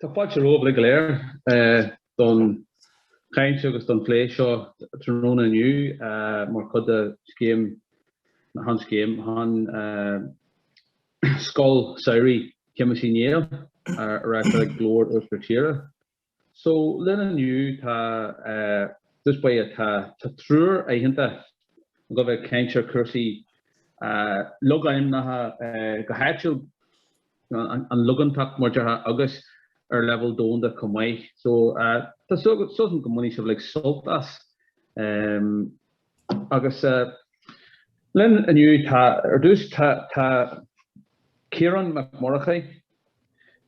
Tá fáilte romhaibh uilig go léir don chaint agus don phlé seo tráthnóna inniu mar chuid de scéim, nó chan scéim, an Scoil Samhraidh Shéamuis Uí Néill á reáchtáil ag Glór Uachtar Tíre. So linn inniu tá just beidh tá triúr aitheanta ag dul a bheith ag caint ar chúrsaí logainmneacha go háitiúil an logainmneacht mar a déarfá agus ar leibhéal domhanda chomh maith. So tá súil agam go mbainfidh sibh uilig sult as. Agus linn inniu, tá, ar dtús, tá Ciarán Mac Murchaidh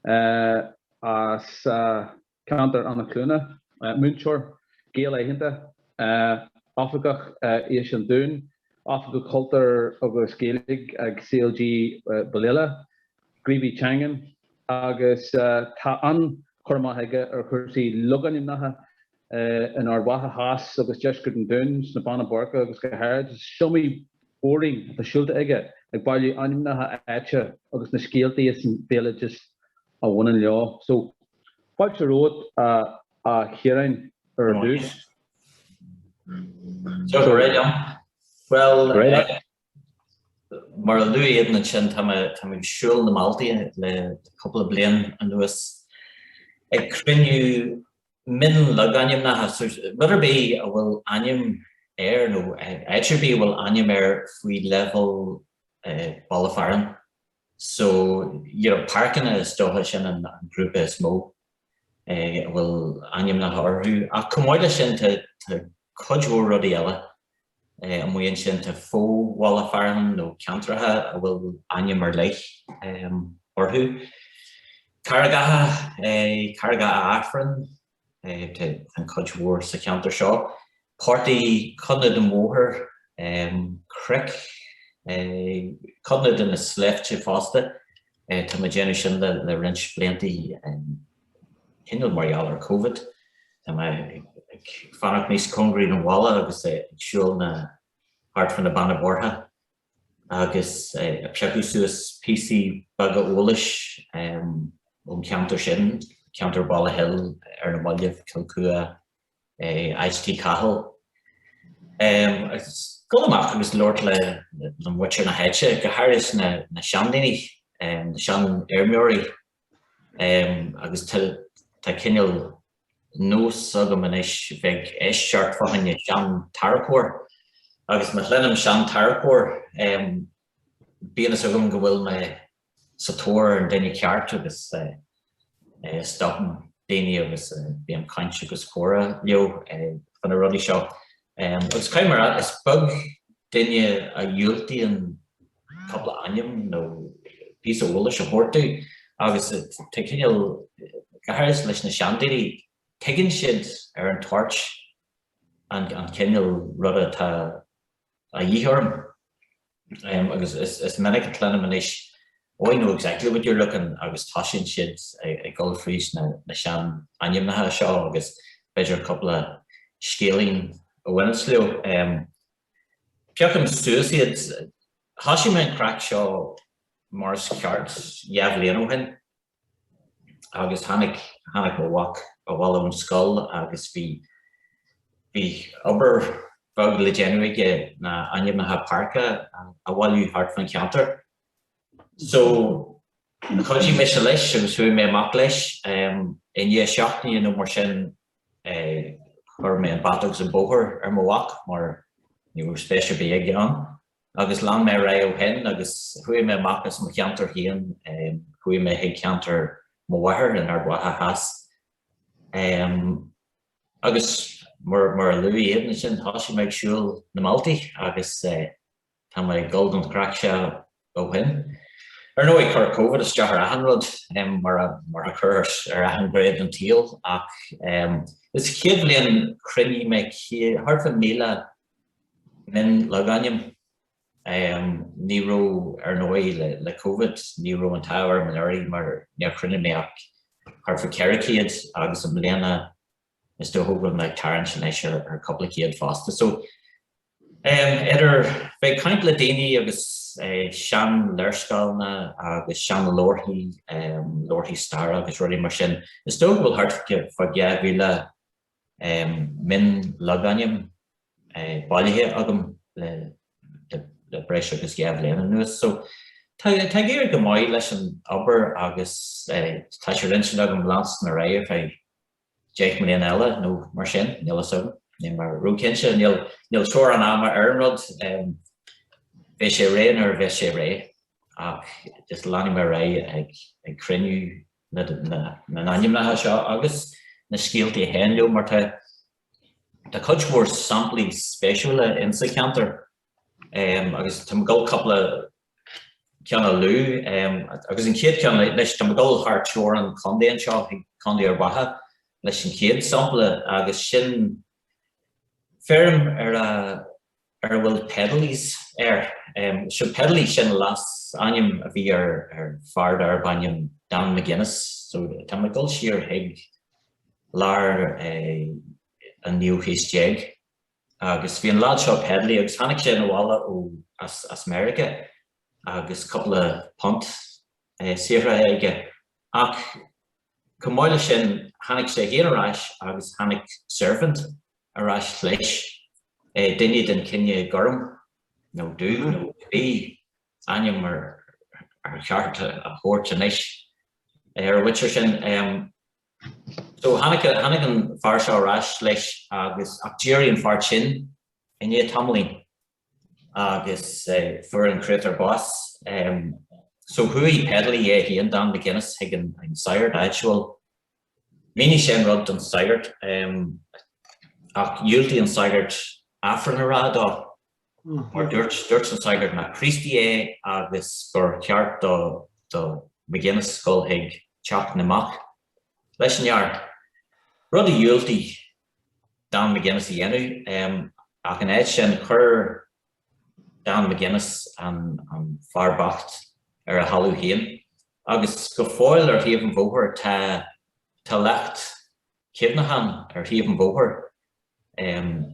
as ceantar Eanach Cluana, múinteoir, Gael aitheanta, Oifigeach Fheis an Dúin, Oifigeach Cultúir agus Gaeilge ag CLG Bhaile Aileach, gníomhaí teangan, agus tá an-chur amach aige ar chúrsaí logainmneacha in Ard Mhacha Theas agus deisceart an Dúin, sna Beanna Boirche agus go háirid. Is iomaí bóithrín atá siúlta aige ag bailiú ainmneacha áite agus na scéaltaí is an béaloideas a bhaineann leo. So, fáilte romhat a Chiaráin ar dtús. So go raibh maith agat. Bhuel, Mar a luaigh Aodán ansin, tá mé ag siúl na mbealtaí le cúpla bliain anuas, ag cruinniú mion-logainmneacha, rud ar bith a bhfuil ainm air, nó áit ar bith a bhfuil ainm air faoi leibhéal baile fearainn. so you know páirceanna is dócha sin an grúpa is mó a bhfuil ainmneacha orthu ach chomh maith leis sin tá cuid mhór rudaí eile amuigh ansin, tá fo-bhaile fearainn nó ceantracha a bhfuil ainm ar leith orthu, Carraigeacha, Carraigeacha Aifrinn, An chuid mhór sa cheantar seo, portaigh, codanna den bhóthar, cnoic, codanna de na sléibhte fosta. Tá mé ag déanamh sin le roinnt bliantaí cineál mar gheall ar Covid. Tá mé ag fanacht níos cóngaraí don bhaile agus ag siúl na thart fá na Beanna Boirche. agus ag piocadh suas píosaí beaga eolais ón cheantar sin, ceantar Bhaile Hill ar na mallaibh, Cill Chua, Áit Tí Chathail. Agus dul amach agus labhairt le muintir na háite, go háirid na seandaoine, na seanfheirmeoirí. agus tá cineál nós agam anois bheith ag éisteacht fá choinne seantarracóir, agus má chluinim seantarracóir bíonn a fhios agam go bhfuil mé sa tóir ar an duine ceart agus stopaim daoine agus bím ag caint agus comhrá leo faoi na rudaí seo. Agus caithfidh mé a rá is beag duine a dhiúltaíonn cupla ainm nó píosa eolais a thabhairt domh agus tá cineál go háirithe leis na seandaoine, tuigeann siad ar an toirt an cineál rud atá a dhíth orm agus is minic a chluinim anois Oh I know exactly what you're looking agus tosaíonn siad ag dul fríd na sean ainmneacha seo agus b'fhéidir cupla scéilín a bhaineas leo. Breacaim síos iad. Thoisigh mé an craic seo mar is ceart dhá bhliain ó shin agus tháinig tháinig mo mhac abhaile ón scoil agus bhí bhí obair bheag le déanamh aige ná ainmneacha páirce a bhailiú thart fán cheantar. So, chuidigh mise leis agus chuaigh mé amach leis. I ndiaidh seachtaine nó mar sin, chuir mé an bata agus an bóthar ar mo mhac mar ní raibh spéis ar bith aige ann. Agus lean mé ar aghaidh ó shin agus chuaigh mé amach as mo cheantar féin, chuaigh mé chuig ceantar mo mháthar in Ard Mhacha Theas. Agus mar a luaigh Aodhán ansin, thosaigh mé ag siúl na mbealtaí agus. Tá mé ag dul don chraic seo ó shin. Ar ndóigh, chuir Covid isteach ar achan rud, mar a chuir ar achan ghné den tsaol, ach sa chéad bhliain chruinnigh mé thart fá mhíle mion-logainm. Ní raibh, ar ndóigh, le Covid, ní raibh an t-ádh orm anuraidh mar níor chruinnigh mé ach thart fá cheithre chéad, agus i mbliana, is dócha go bhfuil mé ag tarraingt anois ar ar cupla céad fosta so em idir bheith ag caint le daoine agus eh sean léirscáileanna agus sean leabharthaí em leabharthaí staire agus rudaí mar sin is dócha go bhfuil thart fá dhá mhíle em mionlogainm eh bailithe agam le le breis agus dhá bhliain anuas so tá tá ag éirí go maith leis an obair agus eh tá sé ar intinn agam leanstan ar aghaidh ar feadh deich mbliana eile nó mar sin, níl fhios agam, níl mé ró-chinnte, níl teorainn ama ar an rud, beidh sé réidh nuair a bheas sé réidh, ach just leanfaidh mé ar aghaidh ag cruinniú na n-ainmneacha seo agus na scéaltaí a théann leo, mar tá cuid mhór samplaí spéisiúla insa cheantar. agus tá mé ag dul cupla ceann a lua agus an chéad ceann anois tá mé ag dul thar teorainn contae anseo chuig Contae Ard Mhacha leis an chéad sampla agus sin feirm ar a ar a bhfuil Pedalys air seo Pedalys sin a leasainm a bhí ar ar fear darb ainm Dan McGuinness so tá mé ag dul siar chuig lár an 19ú haois. Agus bhí an lad seo Pedley agus tháinig sé 'na bhaile ó as Meirice agus cúpla punt saothraithe aige ach chomh maith le sin tháinig sé féin ar ais agus tháinig servant ar ais leis, duine den chine gorm nó dubh nó cibé ainm ar cheart a thabhairt anois ar a leithéid sin. So, tháinig, tháinig an fear seo ar ais leis agus, ach d'éirigh an fear tinn i ndiaidh tamaillín agus fuair an créatúr bás. So, chuaigh Pedley é féin, Dan McGuinness, chuig an sagart áitiúil. Mhínigh sé an rud don sagart ach dhiúltaigh an sagart Aifreann a rá dó. Mar dúirt, dúirt an sagart nach Críostaí é agus gur cheart do, do McGuinness a ghoil chuig teach na mbocht leis an fhear. Rud a dhiúltaigh Dan McGuinness a dhéanamh. Ach ina áit sin, chuir Dan McGuinness an, an fear bocht ar a thalamh féin. Agus go fóill ar thaobh an bhóthair tá, tá leacht cuimhneacháin ar thaobh an bhóthair. em.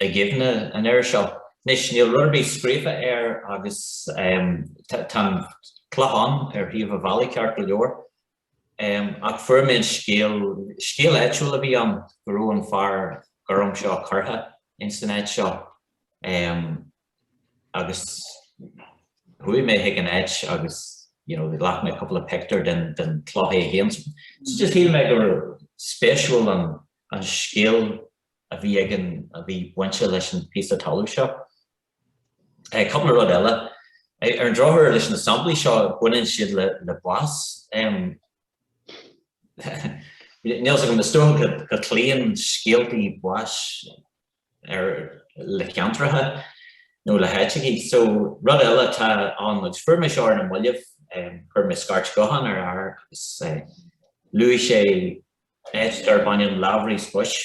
i gcuimhne an fhir seo. Anois, níl rud ar bith scríofa air agus, em, tá an clochán ar thaobh a' bhealaigh ceart go leor, em, ach fuair mé an scéal, scéal áitiúil a bhí ann go raibh an fear gorm seo curtha ins an áit seo, em, agus chuaigh mé chuig an áit agus, you know, ghlac mé cúpla pictiúr den, den chloch é féin. So just shíl mé go raibh, spéisiúil an. an scéal a bhí ag an a bhí bainte leis an bpíosa talamh seo. Cupla rud eile. Ar an drochuair leis na samplaí seo baineann siad le le bás. Níl 's agam is dócha go go cloíonn scéaltaí báis. ar le ceantracha nó le háiteacha. So rud eile atá ann agus, fuair mé seo ar na mallaibh, chuir mé scairt gutháin ar fhear agus luaigh sé áit darb ainm Lavery's Bush.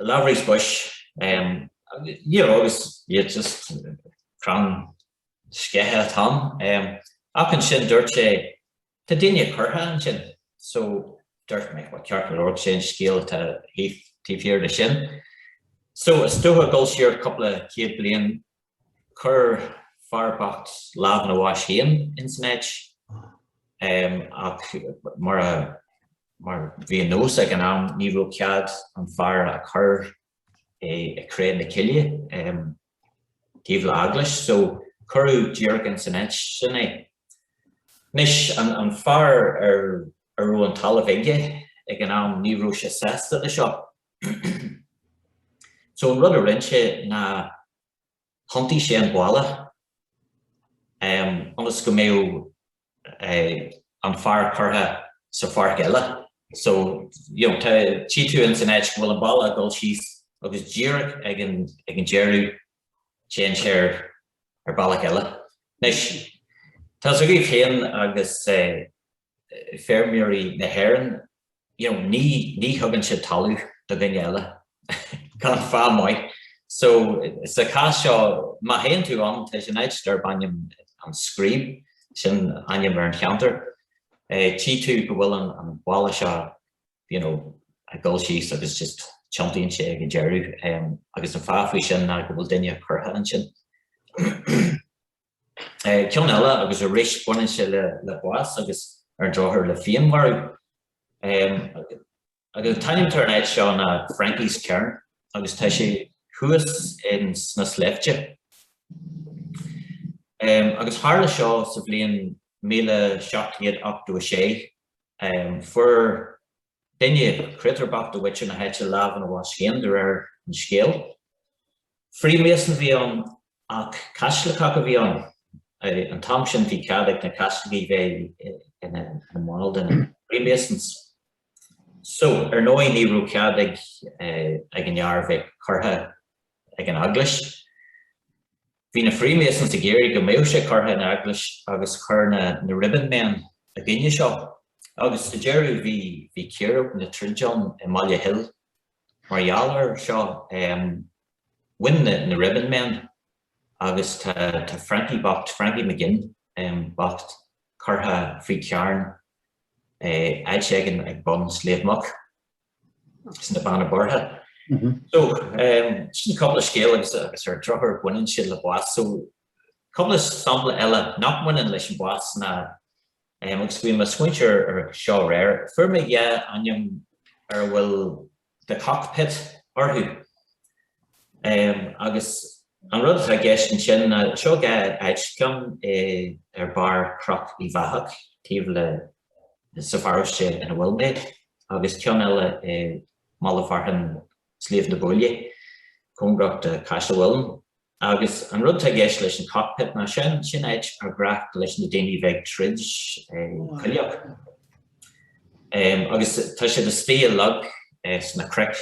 Lavery's Bush, you know agus just crann sceiche atá ann. Ach ansin dúirt sé Tá daoine curtha ansin so dúirt mé bhuel ceart go leor sé an scéal atá taobh thiar de sin. So is dócha dul siar cúpla céad bliain chuir fear bocht lámh ina bhás féin ins an áit ach mar a mar bhí an nós ag an am ní raibh cead an fear a chur i i cré na cille. taobh le heaglais so cuireadh díreach ins an áit sin é. Anois, an fear ar a raibh an talamh aige ag an am ní raibh sé sásta le seo so an rud a rinn sé ná thiontaigh sé an balla ionas go mbeadh an fear curtha sa pháirc eile. So, you know, tá, tchí tú ins an áit go bhfuil an balla ag dul síos agus díreach ag an, ag an deireadh téann sé ar, ar bealach eile. Anois, tá's agaibh féin agus eh feirmeoirí na hÉireann, you know, ní, ní thugann siad talamh do dhaoine eile gan fáth maith. So, sa chás seo, má théann tú ann, tá sé in áit darb ainm an Screeb, sin ainm ar an cheantar, tchí tú go bhfuil an, an balla seo, you know, ag dul síos agus just tiontaíonn sé ag an deireadh. Agus an fáth faoi sin ná go bhfuil duine curtha ansin. Ceann eile agus arís baineann sé le bás agus ar an drochuair le féinmharú. Agus an t-ainm atá ar an áit seo ná Frankie's Cairn agus tá sé thuas in sna sléibhte. Agus tharla seo sa bhliain míle seacht gcéad ochtó a sé. Chuir. duine, créatúr bocht de mhuintir na háite lámh ina bhás féin, de réir an scéil. Freemason a bhí ann, ach Caitliceach a bhí ann. An t-am sin bhí cead ag na Caitlicigh bheith ina mbaill de na Freemasons. So, ar ndóigh ní raibh cead ag an fhear bheith curtha ag an eaglais. Bhí na Freemasons ag iarraidh go mbeadh sé curtha in eaglais agus chuir na na Ribbon Men i gcoinne seo agus sa deireadh bhí bhí círéib nó troid ann i mBaile Hill mar gheall air seo. Bhain na na Ribbon Men agus tá tá Frankie bocht, Frankie McGinn bocht curtha faoi charn in áit éigin ag bun Sliabh Muc. sna Beanna Boirche. So, sin cúpla scéal agus agus ar drochuair baineann siad le bás. So, cúpla sampla eile nach mbaineann leis an bhás ná, agus bhí mé ag smaointiú ar ar seo aréir, fuair mé dhá ainm ar a bhfuil The Cockpit orthu. Agus an rud atá i gceist ansin ná, seo áit, ceann ar bharr Chnoc Uí Bheatha, taobh leis, sa pharóiste ina bhfuil mé, agus ceann eile i mbaile fearainn Sliabh na Buaile, cóngarach do Chaiseal Mhuilinn. Agus an rud atá i gceist leis an cockpit ná, sin, sin áit ar ghnách leis na daoine a bheith ag troid coileach. Agus tá siad istigh i log sna cnoic.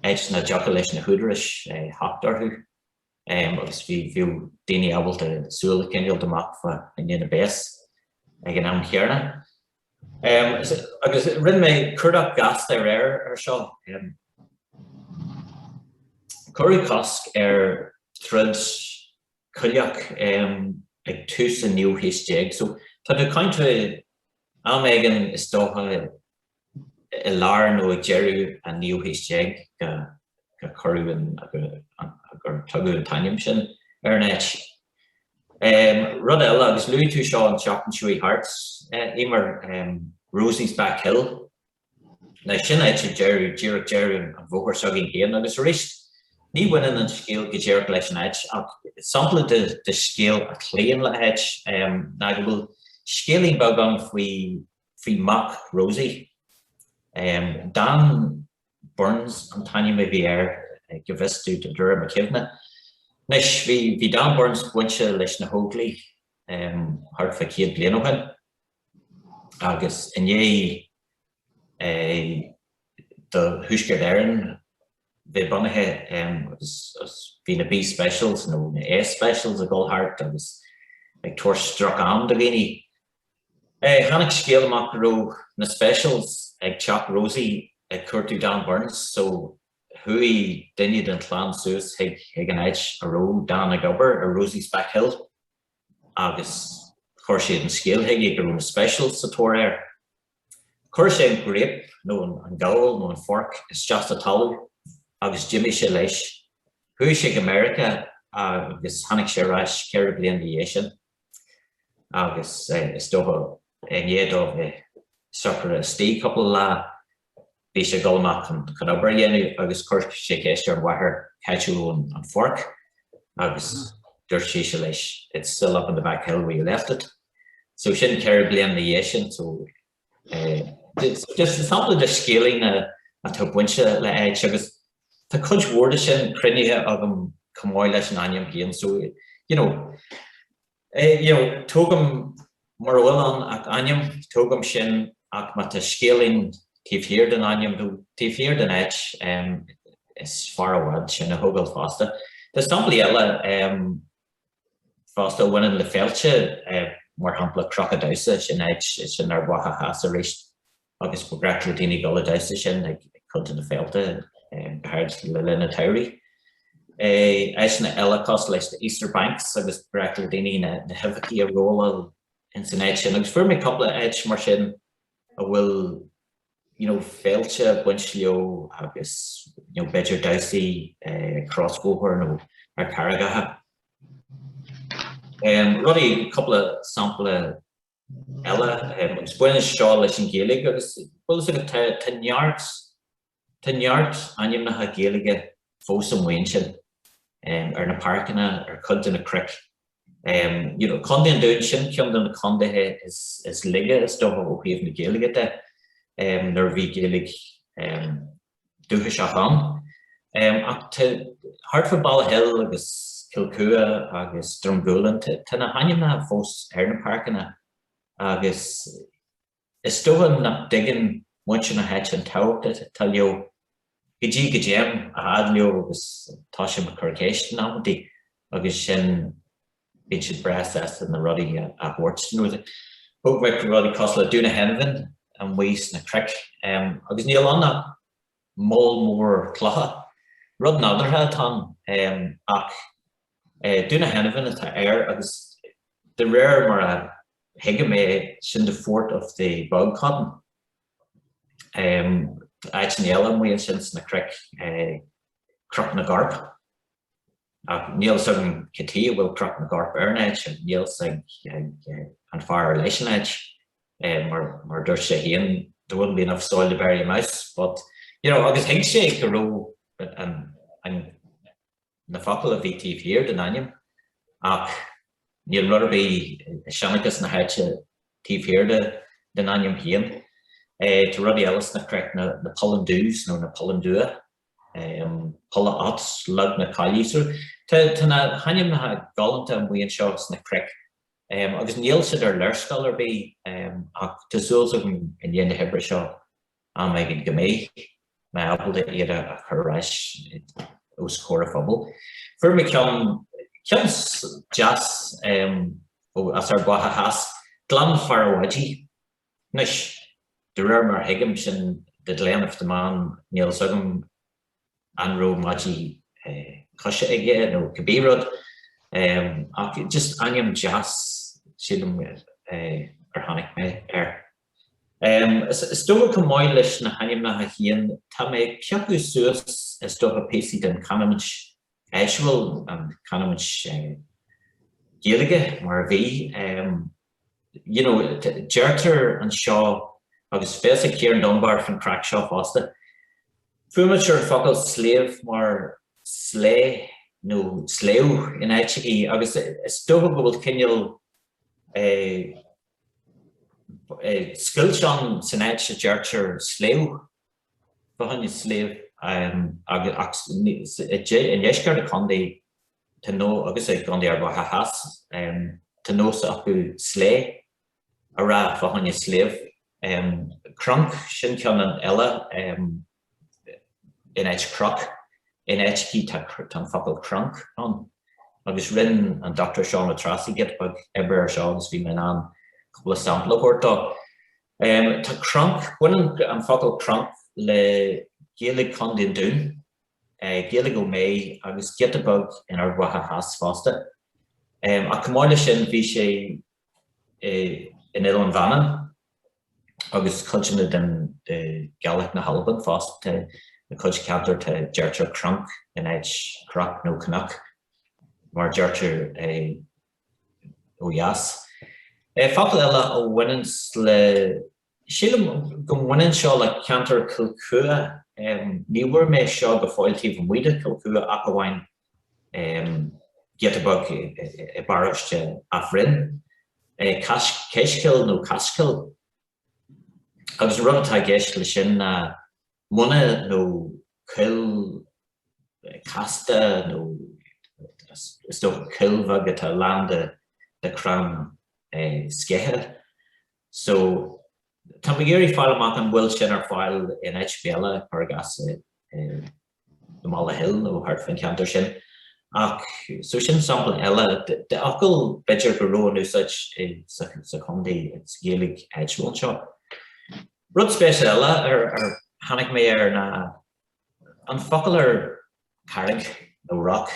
áit nach dtiocfadh leis na húdaráis theacht orthu agus bhíodh daoine ábalta súil a choinneáilt amach fá choinne na bpéas ag an am chéarna. Agus rinne mé cuardach gasta aréir air seo. Cuireadh cosc ar throid coileach ag tús an ochtú haois déag, so tá tú ag caint am éigin is dócha i lár nó ag deireadh an naoú haois déag gur cuireadh an, nó gur tugadh an t-ainm sin ar an áit. Rud eile, agus luaigh tú seo an tseachtain seo a chuaigh thart, Emer, Rosie's Back Hill, now sin áit ag deireadh, díreach deireadh an bhóthair s'againn féin agus arís, ní bhaineann an scéal go díreach leis an áit ach sampla de scéal a chloíonn le háit, ná go bhfuil scéilín beag ann faoi faoi mhac Rosie. Dan Burns an t-ainm a bhí air go bhfios domh de réir mo chuimhne. Anois, bhí Dan Burns bainte leis na hÓglaigh thart fá céad bliain ó shin agus i ndiaidh do Thuaisceart Éireann bheith bunaithe agus bhí na B-Specials nó na A-Specials ag dul thart agus ag tabhairt droch-am do dhaoine. Tháinig scéal amach go raibh na Specials ag teach Rosie ag cuartú Dan Burns so chuaigh duine den chlann suas chuig an áit a raibh Dan ag obair, ar Rosie's Back Hill, agus chuir siad an scéal chuige go raibh na Specials sa tóir air. Chuir sé an graip, nó an gabhal nó an forc, isteach sa talamh agus d'imigh sé leis. Chuaigh sé go Meiriceá agus tháinig sé ar ais ceithre bliana ina dhiaidh sin. agus is dócha i ndiaidh dóibh bheith socraithe istigh cúpla lá, bhí sé ag dul amach chun obair a dhéanamh agus chuir sé ceist ar an mháthair cá háit a bhfuil an forc agus dúirt sise leis it's still up on the back hill where you left it. So sin ceithre bliana ina dhiaidh sin. Is sampla de scéilín atá bainte le háit agus tá cuid mhór de sin cruinnithe agam chomh maith leis an ainm féin so, you know, eh, you know, tógaim, mura bhfuil ann ach ainm, tógaim sin ach má tá scéilín taobh thiar den ainm nó taobh thiar den áit, em, is fearr i bhfad sin a thógáil fosta. Tá samplaí eile, em, fosta a bhaineann le féilte, mar shampla Cnoc an Damhsa, sin áit, is sin Ard Mhacha Theas arís, agus ba bhreá le daoine dul ag damhsa ansin ag cuid de na féilte, go háirid le linn an tsamhraidh. Áiteanna eile cosúil leis na Easter Banks, agus ba bhreá le daoine na huibheachaí a róláil ins an áit sin, agus fuair mé cúpla áit mar sin a bhfuil you know féilte ag baint leo agus you know b'fhéidir damhsaí ag crosbhóthar nó ar carraigeacha. Em, rudaí, cúpla sampla eile, em, agus baineann seo leis an Ghaeilge agus bhfuil fhios agat, tá, tá neart Tá neart ainmneacha Gaeilge fós amuigh ansin, ar na páirceanna, ar chuid de na cnoic. You know, Contae an Dúin, sin ceann de na contaetha is laige, is dócha, ó thaobh na Gaeilge de, nuair a bhí Gaeilge dúchasach ann. Ach tá, thart fá Baile Hill agus Cill Chua agus Drumgooland, tá na hainmneacha fós ar na páirceanna agus, Is dócha nach dtuigeann muintir na háite an tábhacht atá leo, go dtí go dtéim a fhad leo agus tosaím ag cur ceist in amantaí agus ansin bíonn siad breá sásta na rudaí a thabhairt. Thóg mé rudaí cosúil le Dún an Cheannbháin amuigh sna cnoic agus níl ann ach. moll mór clocha. Rud nádúrtha atá ann, ach Dún an Cheannbháin atá air agus de réir mar a thuigim é sin the fort of the bog cotton. Tá áiteanna eile amuigh ansin sna cnoic, Cnoc na gCorp. Ach níl 's againn cad tuige a bhfuil Cnoc na gCorp ar an áit, níl 's ag an fear ar leis an áit, mar mar a dúirt sé féin, there wouldn't be enough soil to bury a mouse, but, you know, agus thuig sé go raibh an, an, na focail a bhí taobh thiar den ainm, ach níl rud ar bith i seanchas na háite taobh thiar de, den ainm féin. Tá rudaí eile sna cnoic, na na Pollandoos nó na Polláin Dubha, Polla Ots, Log na Caillí. So tá na hainmneacha galánta amuigh anseo sna cnoic agus níl siad ar léarscáil ar bith ach tá súil agam i ndiaidh na hoibre seo am éigin go mbeidh mé ábalta iad a chur ar ais os comhair an phobail. Fuair mé ceann, ceann deas as Ard Mhacha Theas, Gleann Farradh Oidí. Anois, de réir mar a thuigim, sin The Glen of the Man, níl fhios agam an raibh maidí coise aige nó cibé rud, ach just ainm deas, sílim, ar tháinig mé air. Is dócha chomh maith leis na hainmneacha féin, tá mé ag piocadh suas is dócha píosaí den chanúint áitiúil, an canúint Gaeilge mar a bhí. You know, deirtear anseo, agus fios ag Ciarán Dunbar fán craic seo fosta, fuaimnítear an focal sliabh mar slé nó sléibh in áiteachaí, agus is dócha go bhfuil cineál scoilt ann san áit a deirtear sléibh. fá choinne sliabh agus i ndeisceart an chontae tá nó agus i gcontae Ard Mhacha Theas tá nós acu 'slé' a rá fá choinne sliabh. Cronk, sin ceann eile, in áit croc. In áiteachaí tá an focal 'cronk' ann. Agus rinne an Dr Seán Ó Treasaigh giota beag oibre air seo agus bhí mé in ann cúpla sampla a thabhairt dó. Tá cronk, baineann an focal cronk le Gaeilge Chontae an Dúin, Gaeilge Ó Méith agus giota beag in Ard Mhacha Theas fosta. Ach chomh maith leis sin bhí sé in Oileán Mhanann agus cuideanna den Ghaeilge na hAlban fosta. Tá cuid ceantar tá deirtear cronk in áit croc nó cnoc mar deirtear é. ó dheas. Focal eile a bhaineanns le. Sílim go mbaineann seo le ceantar Chill Chua. Ní bhfuair mé seo go fóill taobh amuigh de Chill Chua ach amháin giota beag i bparóiste Áth Bhriain, Caschill nó caschoill. Agus an rud atá i gceist leis sin ná muine nó coill casta nó is dócha coill bheag atá lán de crann sceiche. So tá mé ag iarraidh fáil amach an bhfuil sin ar fáil in áit ar bith eile, cuir i gcás i. i mBaile Hill nó thart faoin cheantar sin. Ach so sin sampla eile de fhocal b'fhéidir go raibh in úsáid i sa chontae sa Ghaeilge áitiúil seo. Rud spéisiúil eile ar tháinig mé air ná an focal ar carraig nó rock.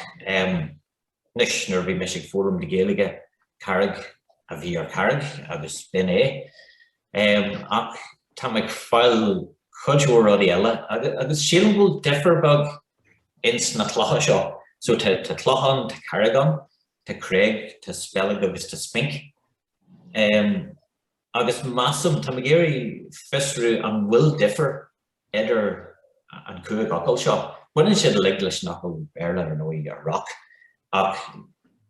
Anois nuair a bhí mise ag foghlaim Gaeilge, Carraig a bhí ar Charraig agus b'in é. Ach tá mé ag fáil cuid mhór rudaí eile agus sílim go bhfuil difear beag ins na clocha seo. So tá cloch ann, tá carraig ann, tá creig, tá speilg agus tá spinc. Agus measaim, tá mé ag iarraidh fiosrú an bhfuil difear. idir an chúig fhocal seo. Baineann siad uilig leis an fhocal Béarla, ar ndóigh, rock, ach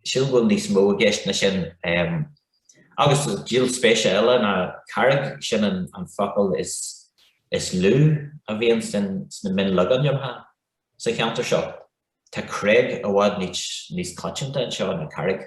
sílim go bhfuil níos mó i gceist ná sin. Agus díol spéise eile ná carraig, sin an focal is lú a bhíonn sna mionlogainmneacha sa cheantar seo. Tá creig i bhfad níos coitianta anseo ná carraig.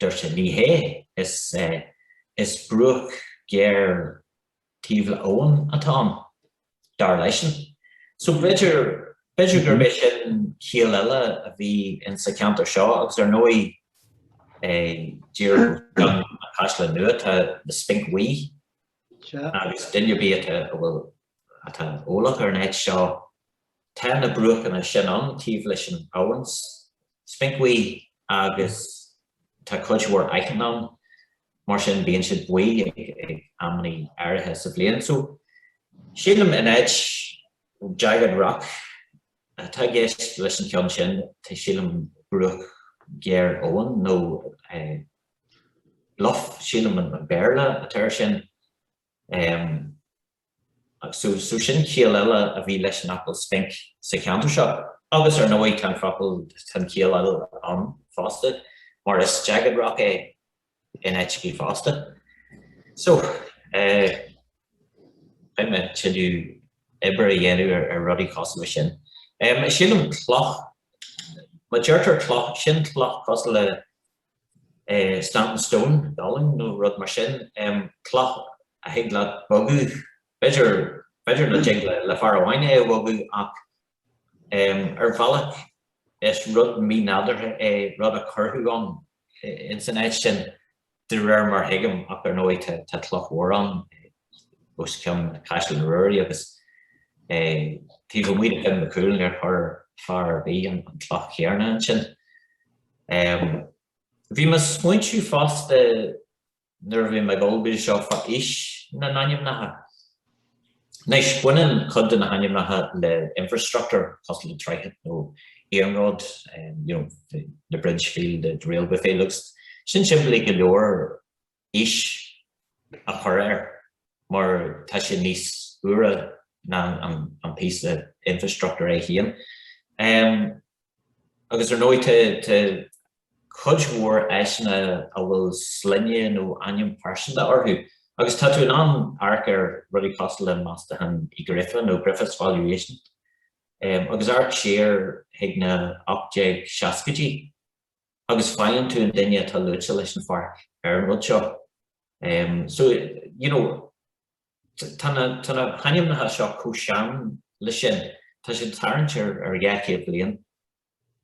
Dúirt sé, ní hé. Is is bruach géar taobh le abhainn atá ann, dar leisean. So b'fhéidir, b'fhéidir gurb é sin ciall eile a bhí in sa cheantar seo agus ar ndóigh díreach i ndiaidh an Chaisleáin Nua tá The Spinc Bhuí agus duine ar bith atá, a bhfuil, atá eolach ar an áit seo, Tá na bruachanna sin ann taobh leis an abhainn Spinc Bhuí agus tá cuid mhór aitinn ann, mar sin bíonn siad buí ag amannaí áirithe sa bhliain. So, sílim in áit Jagged Rock atá i gceist leis an cheann sin, tá sílim bruach géar abhann nó Bluff, sílim an Béarla atá ar sin. So sin ciall eile a bhí leis an fhocal spinc sa cheantar seo. Agus ar ndóigh tá an focal, tá an chiall eile ann fosta, mar is jagged rock é in áiteachaí fosta. So eh beidh mé ag tuilleadh oibre a dhéanamh ar ar rudaí cosúil leis sin. Em sílim cloch, má deirtear cloch, sin cloch cosúil le, standing stone, dolmen nó rud mar sin, cloch a thig leat bogadh, b'fhéidir, b'fhéidir nach dtig le fear amháin é a bhogadh ach ar bhealach is rud mínádúrtha é, rud a cuireadh ann ins an áit sin de réir mar thuigim ach ar ndóigh tá cloch mhór ann os cionn Chaisleán Ruairí agus taobh amuigh de Fhionn Mac Cumhaill níor chuir fear ar bith an cloch chéanna ansin. Bhí mé ag smaointiú fosta nuair a bhí mé ag ullmhú seo fá aois na n-ainmneacha. Anois, baineann cuid de na hainmneacha le infrastructúr, cosúil le droichead nó iarnród, you know, the bridge field, the railway field, agus sin simplí go leor, aois a chur air mar tá sé níos úire ná an píosa infreastruchtúir é fhéin. Agus ar ndóigh tá cuid mhór áiteanna a bhfuil sloinne nó ainm pearsanta orthu agus tá tú in ann amharc ar rudaí cosúil le Meastachán Uí Ghríofa nó Griffith's Valuation agus amharc siar chuig na 1860idí. agus faigheann tú an duine atá luaite leis an pháirc ar an rud seo. So, you know, tá na hainmneacha seo chomh sean le sin, tá siad ag tarraingt ar dhá chéad bliain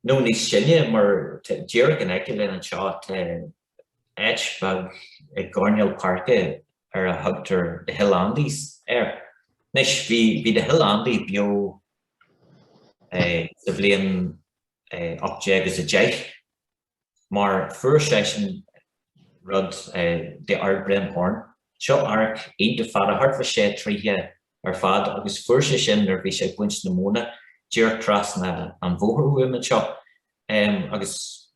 nó níos sine mar díreach in aice linn anseo tá áit bheag i gcoirnéal páirce ar a thugtar The Hill Andy's air. Anois, bhí The Hill Andy beo sa bhliain. 1810, mar fuair seisean rud the Ardbrin Horn. Seo adharc iontach fada, thart fá sé troighthe ar fad, agus fuair sé sin nuair bhí sé ag baint na móna díreach trasna an bhóthair uaim anseo, agus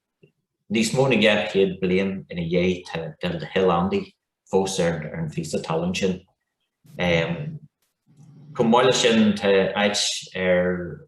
níos mó na dhá chéad bliain ina dhiaidh tá The Hill Andy fós ar an phíosa talún sin. Chomh maith le sin tá áit ar.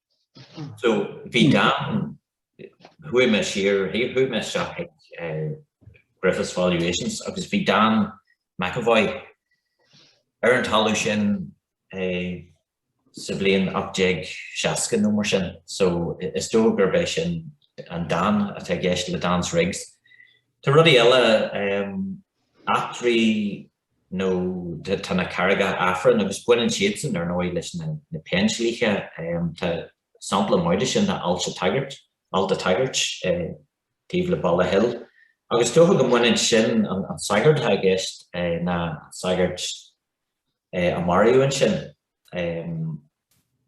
So bhí Dan, chuaigh mé siar, chuaigh mé isteach ag Griffith's Valuations agus bhí Dan McEvoy ar an talamh sin sa bhliain 1860 nó mar sin. So is dóigh gurb é sin an Dan atá i gceist le Dan's Rigs. Tá rudaí eile, eachtraí nó tá na carraigeacha Aifrinn, agus baineann siadsan, ar ndóigh, leis na péindlíthe, tá sampla maith de sin ná Ailt a' tSagairt, Alt a' tSagairt, taobh le Baile Hill, agus is dócha go mbaineann sin, an sagart atá i gceist, ná an sagart a maraíodh ansin,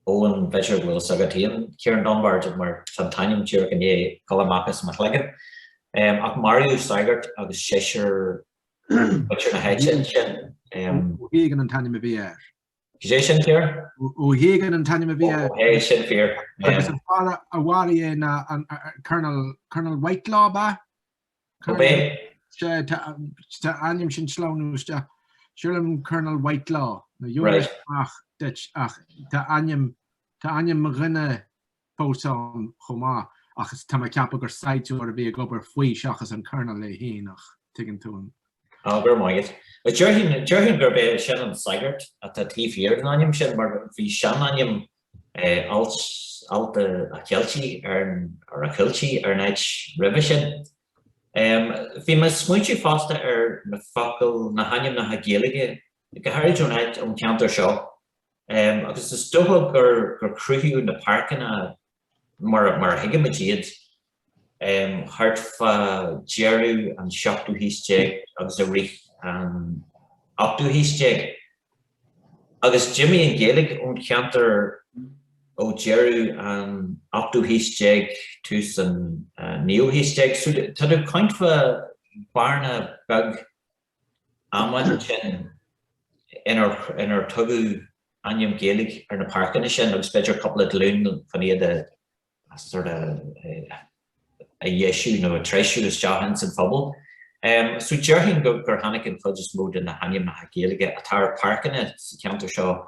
Eoghan, b'fhéidir go bhfuil 's agat fhéin, Ciarán Dunbar, mar tá an t-ainm díreach i ndiaidh dul amach as mo chloigeann, ach maraíodh sagart agus seisear muintir na háite ansin. Ó hÁgáin an t-ainm a bhí air. Is é sin an fear. Ó hÁgáin an t-ainm a bhí air. Ó, é sin an fear. Agus an fear a mharaigh é ná an Colonel, Colonel Whitelaw, ab ea? Ab é? Sé, tá ainm sin ag sleamhnú isteach. Sílim Colonel Whitelaw, na dheonaigh amach duit ach tá ainm, tá ainm mo dhuine, fós ann chomh maith ach tá mé ag ceapadh gur saighdiúir a bhí ag obair faoi seachas an Colonel é féin ach tuigeann tú an. Ah, go raibh maith agat. Déarfainn, déarfainn gurb é sin an sagart atá taobh thiar den ainm sin mar bhí seanainm Ailt, Ailt a' Cheiltigh ar an, or a Cuiltigh ar an áit roimhe sin. Bhí mé ag smaointiú fosta ar na focail, na hainmneacha Gaeilge go háirid ón áit, ón cheantar seo agus is dócha gur cruthaíodh na páirceanna mar a thuigimid iad thart fá dheireadh an seachtú haois déag agus i rith an ochtú haois déag agus d'imigh an Ghaeilge ón cheantar ó dheireadh an ochtú haois déag, tús an naoú haois déag. Tá tú ag caint fá bearna beag amháin ansin inar tugadh ainm Gaeilge ar na páirceanna sin agus b'fhéidir cúpla glún chun iad a sort of a dheisiú nó a treisiú isteach ins an phobal. So déarfainn gur tháinig an chuid is mó de na hainmneacha Gaeilge atá ar pháirceanna sa cheantar seo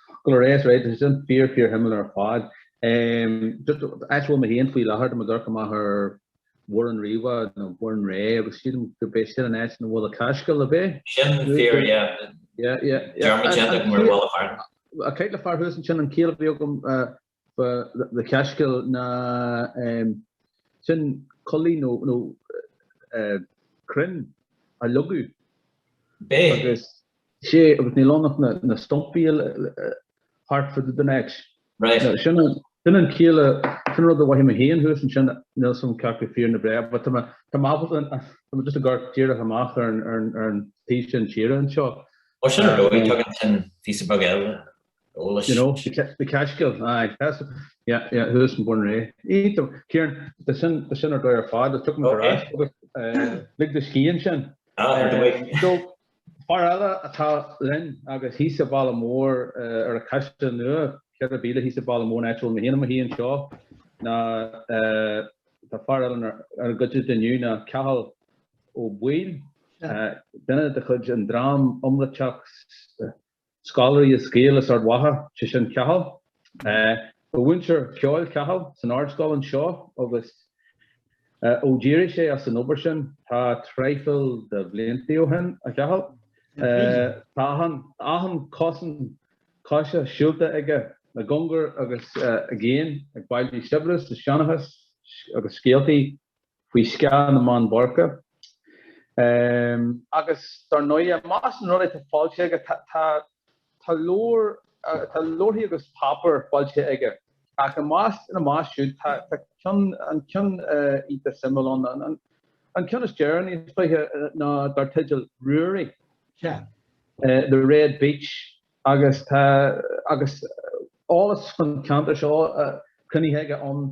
Go raibh maith agat, tá sin fíor fíorshuimiúil ar fad. Áit a bhfuil mé féin faoi láthair, tá mé ag amharc amach ar Bhoireann Riabhach, nó Burrenreagh, agus sílim gurb é sin an áit ina bhfuil an Cascáil, ab é? Sin fíor, yeah. Dearmad déanta agam ar an bhfalla thar. Ag caint le fear thuas ansin, an ciall a bhí agam le Cascáil ná sin coillidh nó crainn a leagadh. B'é agus sé agus níl ann ach na stumpaí thart fá dtaobh de anois. Right. Sin an ciall a, sin rud a mhoithigh mé féin thuas ansin, níl a fhios agam cé acu fíor nó bréag but tá mé, tá mé ábalta, tá mé just ag amharc díreach amach ar an taobh sin tíre anseo. Ó sin ar ndóigh tugann sin píosa beag eile eolais. You know, the Cascáil, aye, that's it, yeah, yeah, thuas in Burrenreagh. Aye, Ciarán, bhí sin, bhí sin ar dóigh ar fad, take a wee rest, agus lig do scíth ansin. Ah, ar dóigh. So, fear eile atá linn, agus thíos an bealach mór ar an Caisleán Nua, ceithre mhíle thíos an bealach mór ón áit a bhfuil mé féin i mo shuí anseo, ná, tá fear eile inár gcuideachta inniu ná Cathal Ó Baoill, duine de chuid an dream iomráiteach, Scoláirí is Gaeil as Ard Mhacha, sé sin Cathal. Ba mhúinteoir ceoil Cathal san Ardscoil anseo agus ó d'éirigh sé as an obair sin tá traidhfil de bhliantaí ó shin, a Chathail, tá achan cosán coise siúlta aige i gcóngar agus i gcéin ag bailiú saibhreas is seanchas agus scéaltaí. faoi scáth na mBeann Boirche. Agus dar ndóighe, i measc na rudaí atá foilsithe aige, tá tá leabhair, tá leabharthaí agus páipéir foilsithe aige. Ach i measc ina measc siúd tá tá ceann, an ceann iontach suimiúil ann, an an ceann is deireanaí is dóiche, ná dar teideal Ruairí, The Red Beach. agus tá agus eolas faoin cheantar seo cruinnithe aige ann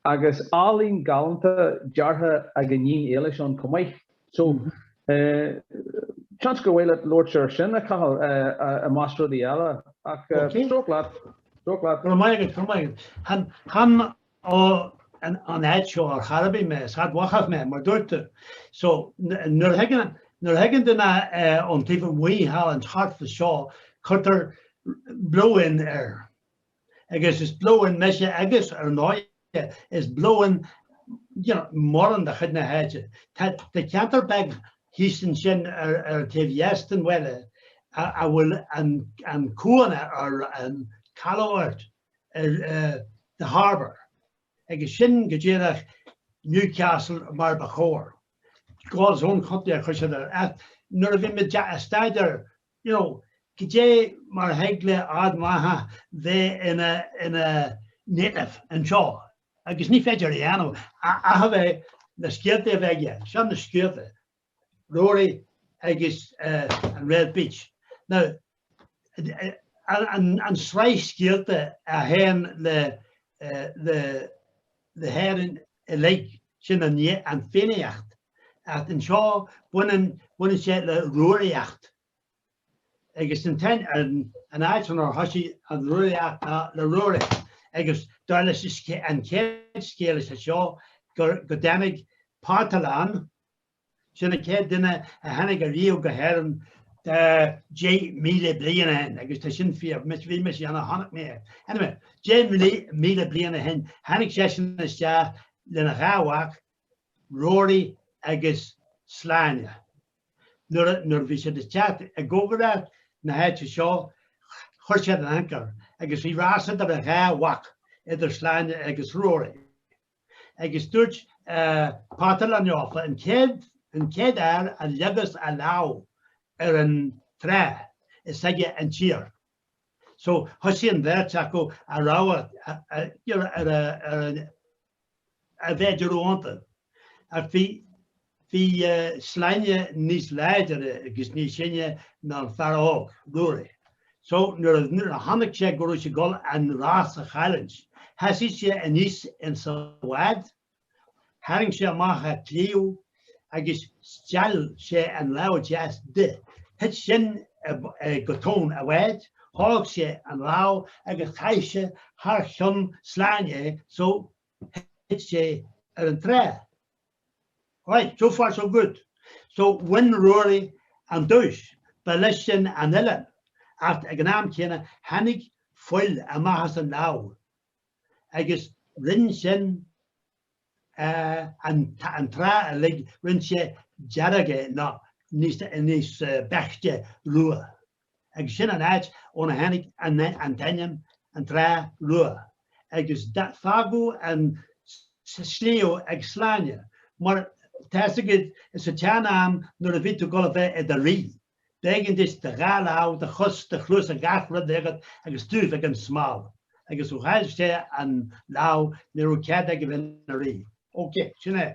agus álainn galánta deartha ag a iníon Éilis ann chomh maith. So seans gur mhaith leat labhairt air sin, a Chathail, i measc rudaí eile. Ach stróc leat. Stróc leat. Go raibh maith agat, go raibh maith agat. Chan, chan, Ón áit seo ar chor ar bith mé, is Ard Mhachach mé, mar dúirt tú. So, nuair a thigeann duine ón taobh amuigh thall an thart fa seo, cuirtear blow-in air. Agus is blow-in mise agus, ar ndóighe, is blow-in, you know, mórán de chuid na háite. Tá ceantar beag thíos ansin ar an taobh dheas den bhaile a bhfuil an cuan air, an caladh, or. or The Harbour, agus sin go díreach Newcastle mar ba chóir. God's own country a chuir siad air. Ach nuair a bhí mé ag staidéar you know goidé mar a thig le Ard Mhachach bheith ina native anseo agus ní féidir a dhéanamh ach a bheith na scéalta a bheith aige, seo na scéalta. Rory agus an Red Beach. Now, an sraith scéalta a théann le le hÉirinn uilig, sin an an Fiannaíocht. Ach anseo, baineann baineann sé le Rúraíocht. Agus an t-aon an an áit inar thosaigh an Rúraíocht ná le Ruairí. Agus dar leis an chéad scéal is é seo gur go dtáinig Parthalán Sin an chéad duine a tháinig ariamh go hÉirinn tá 10,000 bliain ó shin agus tá sin fíor, mise bhí mise ann, chonaic mé é. Anyway, 10,000 bliain ó shin tháinig seisean isteach lena dhá mhac, Rory agus Sláine. Nuair a, nuair a bhí siad ag teacht i gcóngaracht na háite seo chuir siad an anchor agus bhí rás idir a dhá mhac, idir Sláine agus Rory. agus dúirt Parthalán leofa, an chéad chéad fhear a leagas a lámh ar an trá, is aige an tír. So thosaigh an bheirt acu ag rámhadh ar a mhéid a raibh iontu. Ach bhí. Bhí Sláine níos láidre agus níos sine ná an fear óg, Ruairí, so nuair a chonaic sé go raibh sé ag dul an rás a chailliúint, sheasaigh sé aníos ins a' bhád, tharraing sé amach a' claíomh agus steall sé an lámh deas de. Thuit sin go tóin a' bháid, thóg sé an lámh agus chaith sé thar chionn Sláine so thit sé ar an trá. Right, so far so good. So bhain Ruairí an duais. Ba leis sin an oileán, ach ag an am céanna tháinig fuil amach as an lámh agus rinn sin an trá uilig, rinn sé dearg é, nó níos beaichte rua. agus sin an áit óna tháinig an t-ainm An Trá Rua, agus fágadh an sliabh ag Sláine, mar tá fhios agat sa tsean-am nuair a bhí tú dul a bheith i do rí, b'éigean duitse do dhá lámh, do chos, do chluasa gach rud a bheith agat agus tú a bheith gan smál, agus ó chaill sé an lámh ní raibh cead aige a bheith ina rí. Ok, sin é.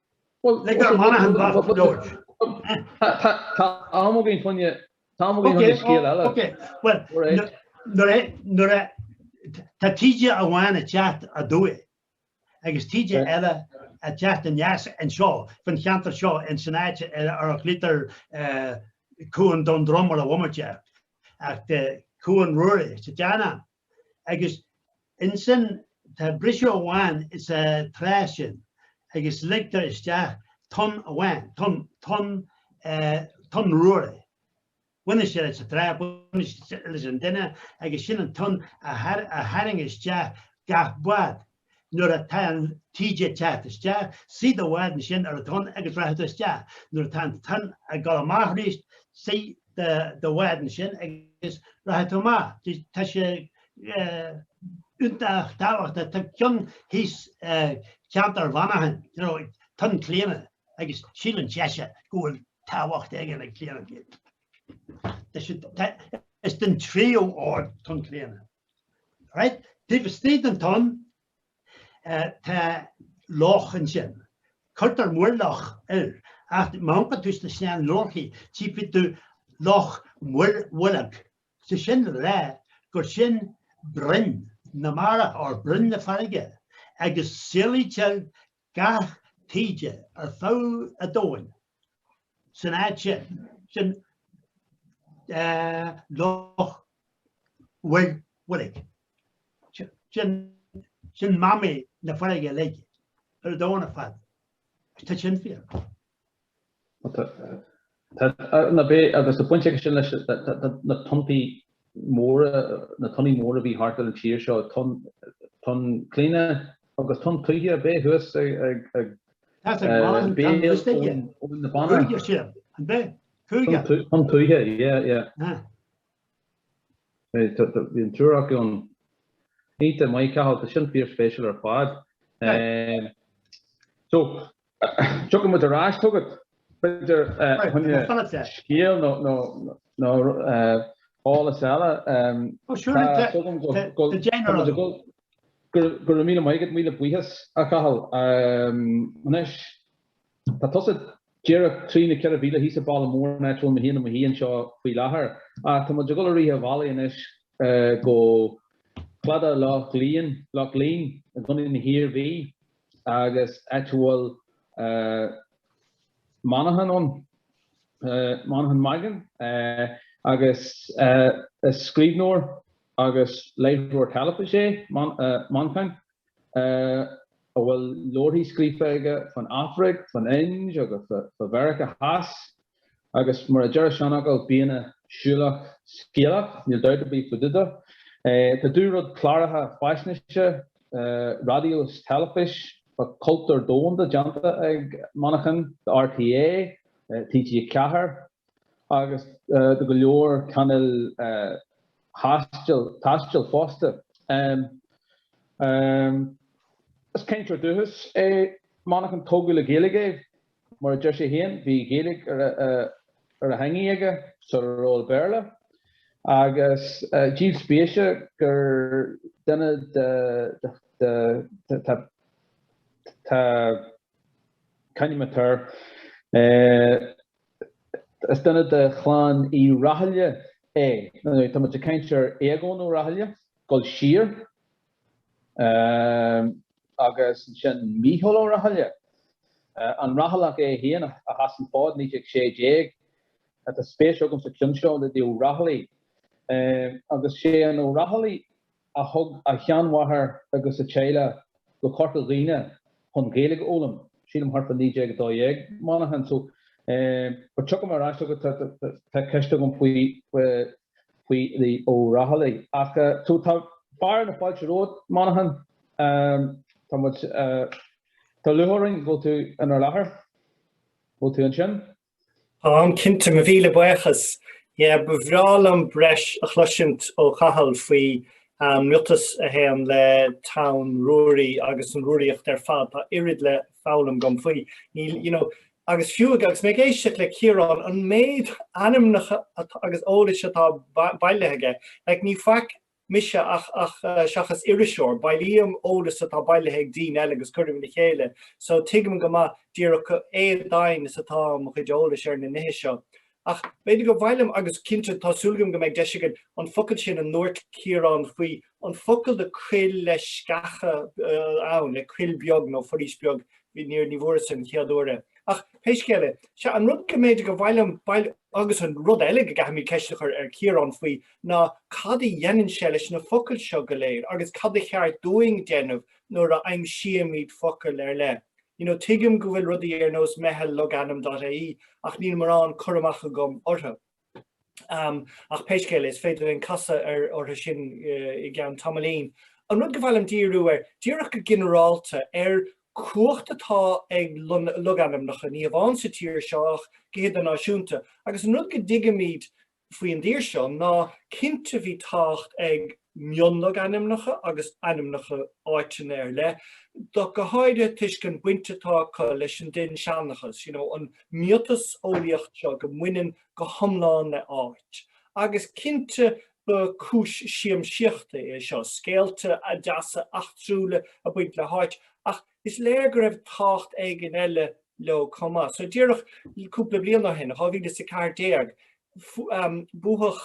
Lig dar Manchán bocht go leor. Tá am againn fá choinne, tá am againn fá choinne scéal eile. Ok, bhuel, nuair a, nuair a, tá taoide amháin ag teacht aduaidh, agus taoide eile ag teacht aneas anseo, faoin cheantar seo in san áit ar a ghlaoitear Cuan Dún Droma ar an bhomaite, ach tá Cuan Ruairí sa tsean-am. agus ansin tá briseadh amháin sa trá sin agus ligtear isteach tonn amháin, tonn, tonn, tonn Ruairí. Baineann sé leis an trá, baineann sé leis an duine agus sin an tonn a tharraing isteach gach bád. nuair atá an taoide ag teacht isteach, suigh do bhád ansin ar an tonn agus rachaidh tú isteach, nuair atá an tonn ag dul amach aríst, suigh do bhád ansin agus rachaidh tú amach. Tá sé iontach tábhachtach, tá ceann thíos i gceantar Mhancháin, you know, Tonn Chlíona agus síleann seisean go bhfuil tábhacht éigin ag Clíona. Is den tríú ord Tonn Chlíona. Right? Taobh istigh den tonn tá loch ansin. Cuirtear muirloch air. Ach má amharcann tú sna sean-leabharthaí, tchífidh tú Loch Muirbholg. Sé sin le rá gur sin broinn na mara or broinn na farraige agus saolaítear gach taoide ar feadh a dtóin san áit sin, sin Loch Mhá Bhoilg, sin, sin mamaí na farraige uilig ar a dtóin ar fad, agus tá sin fíor. Agus tá baint aige sin leis na tonntaí móra, na tonnaí móra a bhí thart ar an tír seo, tonn Chlíodhna agus tonn tuaithe a bhí thuas ag béal Abhainn na Banna. Cúige sin, an b'é? Cúige? Tonn tuaithe, yeah, yeah. Bhí an triúr acu ann. Bhí, maith thú a Chathail, tá sin fíor-spéisiúil ar fad. So, Tiocfaidh muid ar ais chugat. B'fhéidir fá choinne scéal nó eolas eile. Oh sure. Tá súil agam go raibh go raibh míle maith agat, míle buíochas a Chathail. Anois tá tusa díreach trí nó ceithre mhíle thíos an baile mór ón áit a bhfuil mé i mo shuí mo shuí anseo faoi láthair. Ach tá muid ag dul a rith an bhealaigh anois go Cladaigh Loch Léinn i gContae na hIarmhí. agus áit a bhfuil Manchán ann, Manchán Magan, agus is scríbhneoir agus láithreoir teilifíse é Manchán, a bhfuil leabharthaí scríofa aige faoin Afraic, faoin Ind agus fá Mheiriceá Theas. Agus mar a deir an seanfhocal, bíonn an siúlach scéalach, níl dabht ar bith fá dtaobh de. Tá an dúrud cláracha faisnéise, raidió is teilifís, fá chultúr domhanda déanta ag Manchán do RTÉ, TG4 agus do go leor cainéil taistil fosta. Is cainteoir dúchais é Manchán, tógadh le Gaeilge é. Mar a deir sé féin, bhí Gaeilge ar a theangaidh aige sar a raibh an Béarla, agus díol spéise gur duine de tá caint againn air is duine de chlann Uí Rathaille é. Tá muid ag caint ar Aogán Ó Rathaille, ag gabháil siar. Agus ansin Micheál Ó Rathaille, an Rathailleach é féin, a sheas an fód 1916. Tá spéis agam sa chionn seo le The O'Rahilly. Agus sé The O'Rahilly a thug a sheanmháthair agus a teaghlach go Corca Dhuibhne chun Gaeilge a fhoghlaim, sílim thart fá 1912, Manchán. So, tiocfaidh mé ar ais chugat, tá ceist agam faoi file Ó Rathaille. Ach so tá fearadh na fáilte romhat, Manchán. Tá muid, tá lúcháir orainn go bhfuil tú inár láthair. Bhfuil tú ansin? Táim, cinnte. Mo mhíle buíochas. Yeah, ba bhreá liom breis a chloisint ó Chathal faoi miotas a théann le Tonn Ruairí agus an Rúraíocht ar fad. Tá oiread le foghlaim agam faoi. Níl, you know, Agus fiú agus mé ag éisteacht le Ciarán, an méid ainmneacha agus eolais atá bailithe aige, like ní faic mise ach ach seachas iriseoir, bailím eolas atá bailithe ag daoine eile agus cuirim le chéile, so tuigim go maith díreach éadoimhin is atá mo chuid eolais ar na nithe seo. Ach b'fhéidir go mhaith liom, agus cinnte tá súil agam go mbeidh deis againn, an focal sin a ndúirt Ciarán faoi, an focal do coill le sceacha ann, le coill beag nó foraois bheag, níor, ní bhfuaireas an chéad uair é. Ach pé scéal é, sea, an rud go mb'fhéidir go mhaith liom, bhuel, agus an rud eile go gcaithfimid ceist a chur ar Chiarán faoi, ná cad a dhéanann sé leis na focail seo go léir, agus cad a cheart dúinn déanamh nuair a aimsíomid focal ar leith. You know, tuigim go bhfuil rudaí ar nós Meitheal Logainm dot ie ach níl mórán cur amach agam orthu. Umm, ach pé scéal is féidir linn casadh ar orthu sin i gceann tamaillín. An rud go mhaith liom díriú air, díreach go ginearálta, ar cumhacht atá ag logainmneacha, ní hamháin sa tír seo ach go hidirnáisiúnta, agus an rud go dtuigimid faoi an dtír seo ná cinnte bhí tábhacht ag mionlogainmneacha agus ainmneacha áiteanna ar leith do go háirithe toisc an baint atá acu leis an dinnseanchas, you know, an miotaseolaíocht seo go mbaineann go hiomlán le áit. Agus cinnte ba cúis siamsaíochta é seo scéalta deasa eachtrúla a bhaint le háit ach Is léir go raibh tábhacht éigin eile leo chomh maith. So díreach cúpla bliain ó shin, 2014, buadh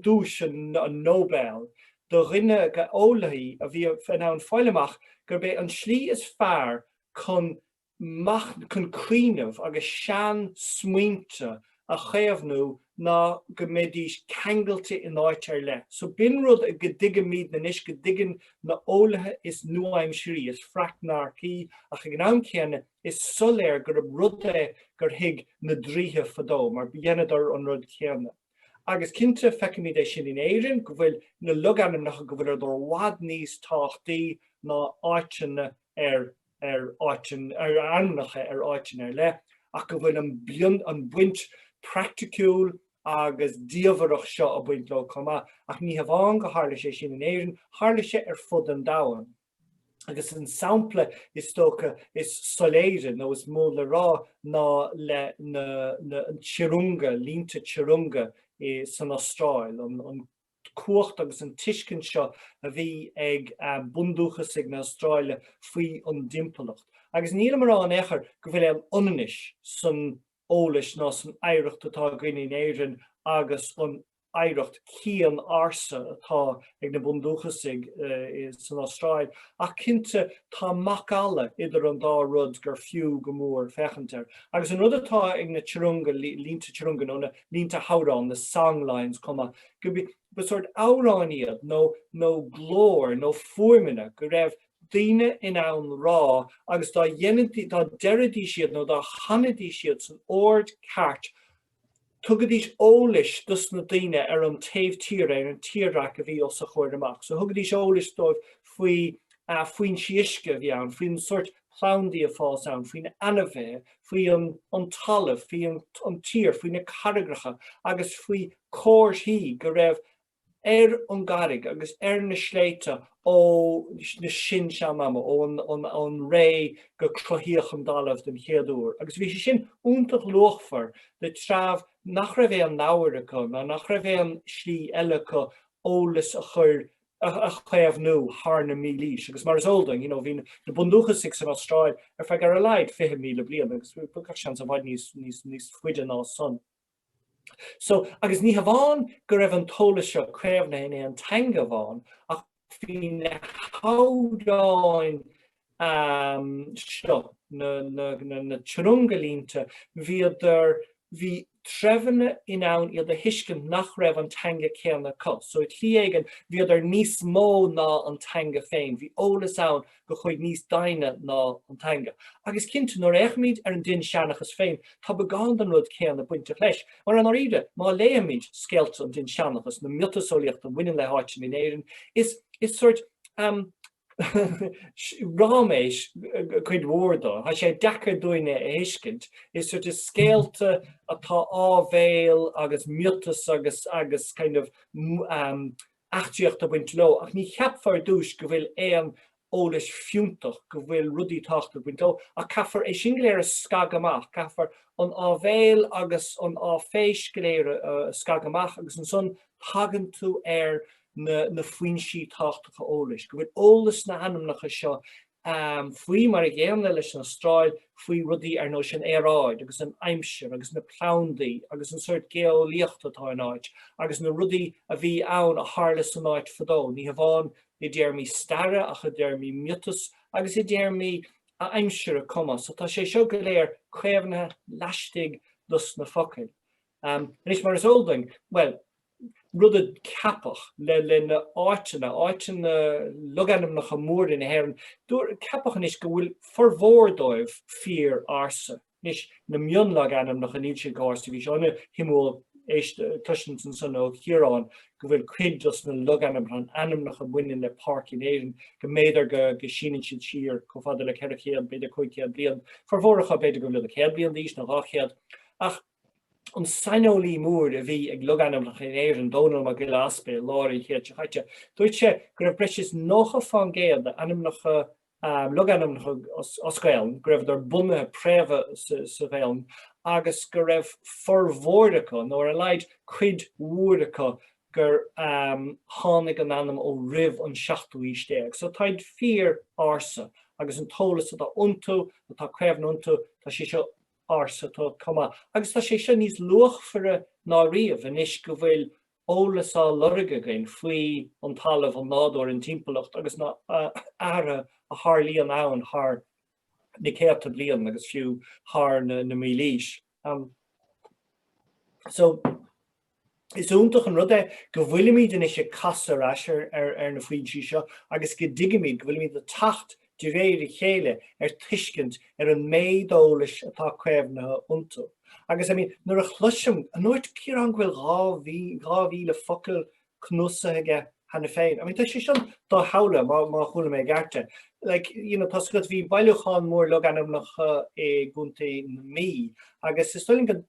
duais an Nobel do dhuine, do eolaithe a bhí in ann fáil amach gurb é an tslí is fearr chun cuimhneamh agus seansmaointe a chaomhnú ná go mbeidís ceangailte in áit ar leith. So b'in rud a go dtuigimid anois go dtuigeann na heolaithe is nua-aimsirí is freacnaircí, ach ag an am céanna is soiléir gurb rud é gur thuig na draoithe fadó mar dheineadar an rud céanna. Agus cinnte feicimid é sin in Éirinn, go bhfuil na logainmneacha go bhfuileadar i bhfad níos tábhachtaí ná áiteanna ar ar ainmneacha ar áiteanna ar leith, ach go bhfuil an bhaint praiticiúil agus diamhaireach seo ag baint leo chomh maith. Ach ní hamháin gur tharla sé sin in Éirinn, tharla sé ar fud an domhain. Agus an sampla is dócha is soiléire, nó is mó le rá, ná le na tjurrunga, línte tjurrunga, san Astráil, an. cumhacht agus an tuiscint seo a bhí ag bundúchasaigh na hAstráile faoi an dtimpeallacht. Agus nílim a rá in aon chor go bhfuil aon ionannas san eolais ná san oidhreacht atá againn in Éirinn agus an oidhreacht chian ársa atá ag na bundúchasaigh san Astráil, ach cinnte tá macalla idir an dá rud gur fiú go mór féachaint air. Agus an rud atá ag na tjurrunga, línte tjurrunga nó na. línte hamhráin, na song lines chomh maith, go mba sórt amhráin iad nó nó glór nó fuaimeanna go raibh daoine in ann rá agus dá dhéanaidís, dá deiridís iad nó dá chanaidís iad san ord ceart tugaidís eolais dos na daoine ar an taobh tíre, ar an tírdhreach a bhí os a gcomhair amach. So thugaidís eolais dóibh faoi foinsí uisce a bhí ann, faoin sórt plandaí ag fás ann, faoi na ainmhithe, faoi an talamh, faoi an tír, faoi na carraigreacha agus faoi comharthaí go raibh ar an gcarraig agus ar na sléibhte ó na sin-sean-ama, ón ré gur cruthaíodh an dtalamh den chéad uair. Agus bhí sé sin iontach luachmhar do treabh nach raibh aon leabhair acu ná nach raibh aon slí eile acu eolas a chur a chaomhnú thar na mílaoise. Agus mar is eol duinn, you know, bhí na bundúchasaigh san Astráil ar feadh ar a laghad 20,000 bliain agus gach seans i bhfad níos, níos, níos faide ná san. So, agus ní hamháin go raibh an t-eolas seo caomhnaithe in aon teanga amháin ach bhí na hamhráin am seo, na tjurrunga línte, bhíodar, bhí treibheanna in ann iad a thuiscint nach raibh an teanga céanna acu. So i tslí éigin, bhíodar níos mó ná an teanga féin, bhí eolas ann go chuaigh níos doimhne ná an teanga. Agus cinnte, nuair a fhéachaimid ar an Dinnseanchas féin, tá beagán den rud céanna bainteach leis. Mar i ndáiríre, má léimid scéalta an Dinnseanchas, na miotaseolaíocht a bhaineann le háiteanna in Éirinn, is sórt, am, ráiméis cuid mhór de. Tá sé deacair dúinn é a thuiscint. Is sort of scéalta atá áibhéil agus miotas agus agus kind of eachtraíocht ag baint leo ach ní cheapfar ar dtúis go bhfuil aon eolais fiúntach, go bhfuil rudaí tábhachtach ag baint leo ach caithfear é sin go léir a scagadh amach. Caithfear an áibhéil agus an áiféis go léir a scagadh amach agus ansan tagann tú ar na na foinsí tábhachtacha eolais, go bhfuil eolas sna hainmneacha seo, faoi mar an gcéanna leis an Astráil, faoi rudaí ar nós an aeráid agus an aimsir agus na plandaí agus an sort geolaíocht atá in áit agus na rudaí a bhí ann a tharla san áit fadó, ní hamháin i dtéarmaí staire ach i dtéarmaí miotas agus i dtéarmaí aimsire chomh maith. So tá sé seo go léir caomhnaithe laistigh dos na focail. Anois, mar is eol dúinn, bhuel, rud a ceapadh leis na háiteanna, áiteanna, logainmneacha móra na hÉireann, ceapadh anois go bhfuil formhór díobh fíor ársa. Anois, na mionlogainmneacha, níl siad chomh ársa, bhí sé an-shuimiúil é a chloisint ansan ó Chiarán go bhfuil cuid dos na logainmneacha, ainmneacha a bhaineann le páirc in Éirinn, go mb'fhéidir go síneann siad siar chomh fada le 400, b'fhéidir 500 bliain, formhór acu b'fhéidir go bhfuilid 100 bliain d'aois nó 200. Ach. an saineolaí mór a bhí ag logainmneacha in Éirinn, Dónall Mac Giolla Easpaig, i lár an chéid seo chaite. Dúirt sé go raibh breis is 90% d'ainmneacha, logainmneacha as Gaolainn, go raibheadar bunaithe préamhaithe sa Ghaolainn agus go raibh formhór acu, nó ar a laghad cuid mhór acu, gur tháinig an ainm ó roimh an seachtú haois déag. So táid fíor ársa, agus an t-eolas atá iontu, atá caomhnaithe iontu, tá sé seo ársa tá chomh maith, agus tá sé seo níos luachmhaire ná riamh anois go bhfuil eolas á lorg againn faoi an talamh, an nádúr, an timpeallacht agus na hathruithe a tharlaíonn ann thar na céadta bliain agus fiú thar na mílaoise. Is iontach an rud é go bhfuilimid anois ag casadh ar ais ar na foinsí seo agus go dtuigimid go bhfuilimid ag teacht de réir a chéile ar tuiscint ar an méid eolais atá caomhnaithe iontu. Agus, I mean, nuair a chloisim, a ndúirt Ciarán go bhfuil 2,000 focal cnuasaithe aige cheana féin. I mean, tá sé sin dosamhlaithe, má, má chuala mé gceart é. Like, you know, tá sé go bhí bailiúchán mór logainmneacha i gContae na Mí, agus is dóigh liom go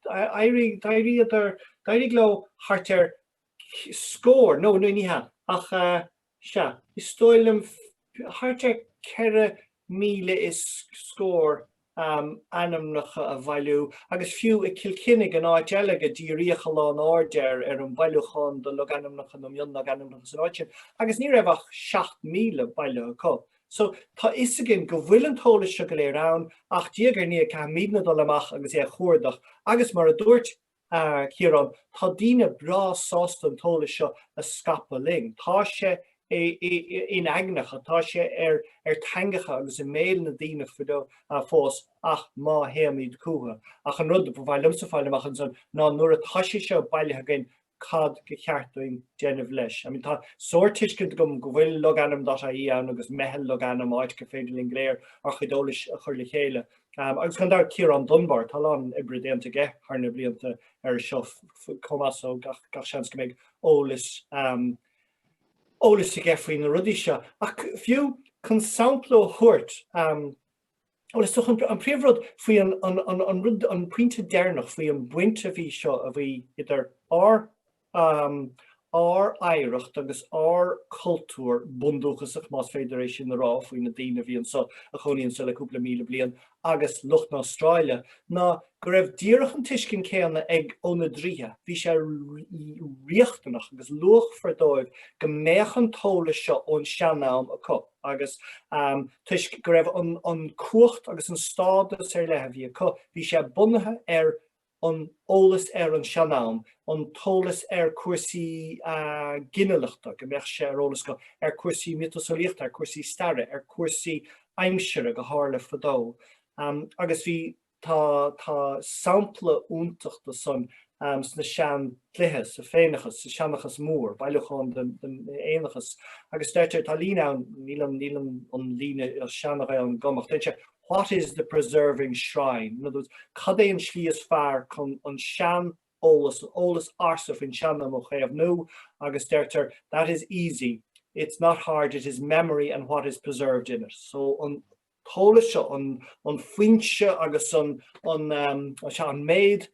d'éirigh leo thart ar scór, no, ní hea, ach sea, is dóigh liom thart ar ceithre míle is scór ainmneacha a bhailiú, agus fiú i gCill Chainnigh, an áit eile gur díríodh a lán airde ar, ar an mbailiúchán de logainmneacha nó mionlogainmneacha san áit sin, agus ní raibh ach seacht míle bailithe acu. So, tá 'fhios againn go bhfuil an t-eolas seo go léir ann, ach diaidh ar ndiaidh caithfimidne dul amach agus é a chuardach, agus mar a dúirt Ciarán, tá daoine breá sásta an t-eolas seo a scaipeadh linn. Tá sé in aigneacha, tá sé ar theangacha agus i mbéil na ndaoine fós, ach má théimid chucu. Ach an rud ba mhaith liomsa a fháil amach ansan ná nuair atá sé seo bailithe againn, cad go cheart dúinn déanamh leis. I mean tá sórt tuiscint agam go bhfuil logainm dot ie ann agus meitheal logainm áit gur féidir linn go léir ár chuid eolais a chur le chéile agus gan dabht Ciarán Dunbar, tá a lán oibre déanta aige thar na blianta ar seo chomh maith so gach, gach seans go mbeidh eolas um, eolas aige faoi na rudaí seo. Ach fiú chun sampla a thabhairt, um, Bhuel, is dócha an príomhrud faoi an rud, an pointe deireanach faoi an bhaint a bhí seo, a bhí idir ár oidhreacht agus ár cultúr bundúchasach, más féidir é sin a rá faoi na daoine a bhí anseo, a chónaí anseo le cúpla míle bliain, agus lucht na hAstráile, ná go raibh díreach an tuiscint céanna ag na draoithe. Bhí sé riachtanach agus luachmhar dóibh go mbeadh an t-eolas seo ón sean-am acu. agus toisc go raibh an cumhacht agus an stádas ar leith a bhí acu, bhí sé bunaithe ar an eolas ar an sean-am, an t-eolas ar cúrsaí ginealachta, go mbeadh sé ar eolas acu ar cúrsaí miotaseolaíochta, ar cúrsaí staire, ar cúrsaí aimsire, gur tharla fadó, agus bhí. Tá tá sampla iontach do san sna sean dlithe, sa Féineachas, sa Seanchas Mór, bailiúchán den den Fhéineachas, agus deirtear, tá líne ann, níl an níl an an líne as seana-Ghaeilge agam go, ach deireann sé, What is the preserving shrine? In other words, cad é an slí is fearr chun an sean eolas, an eolas ársa faoin sean-am a chaomhnú, agus deirtear, That is easy, it's not hard, it is memory and what is preserved in it. So an t-eolas seo, an foinse agus an méid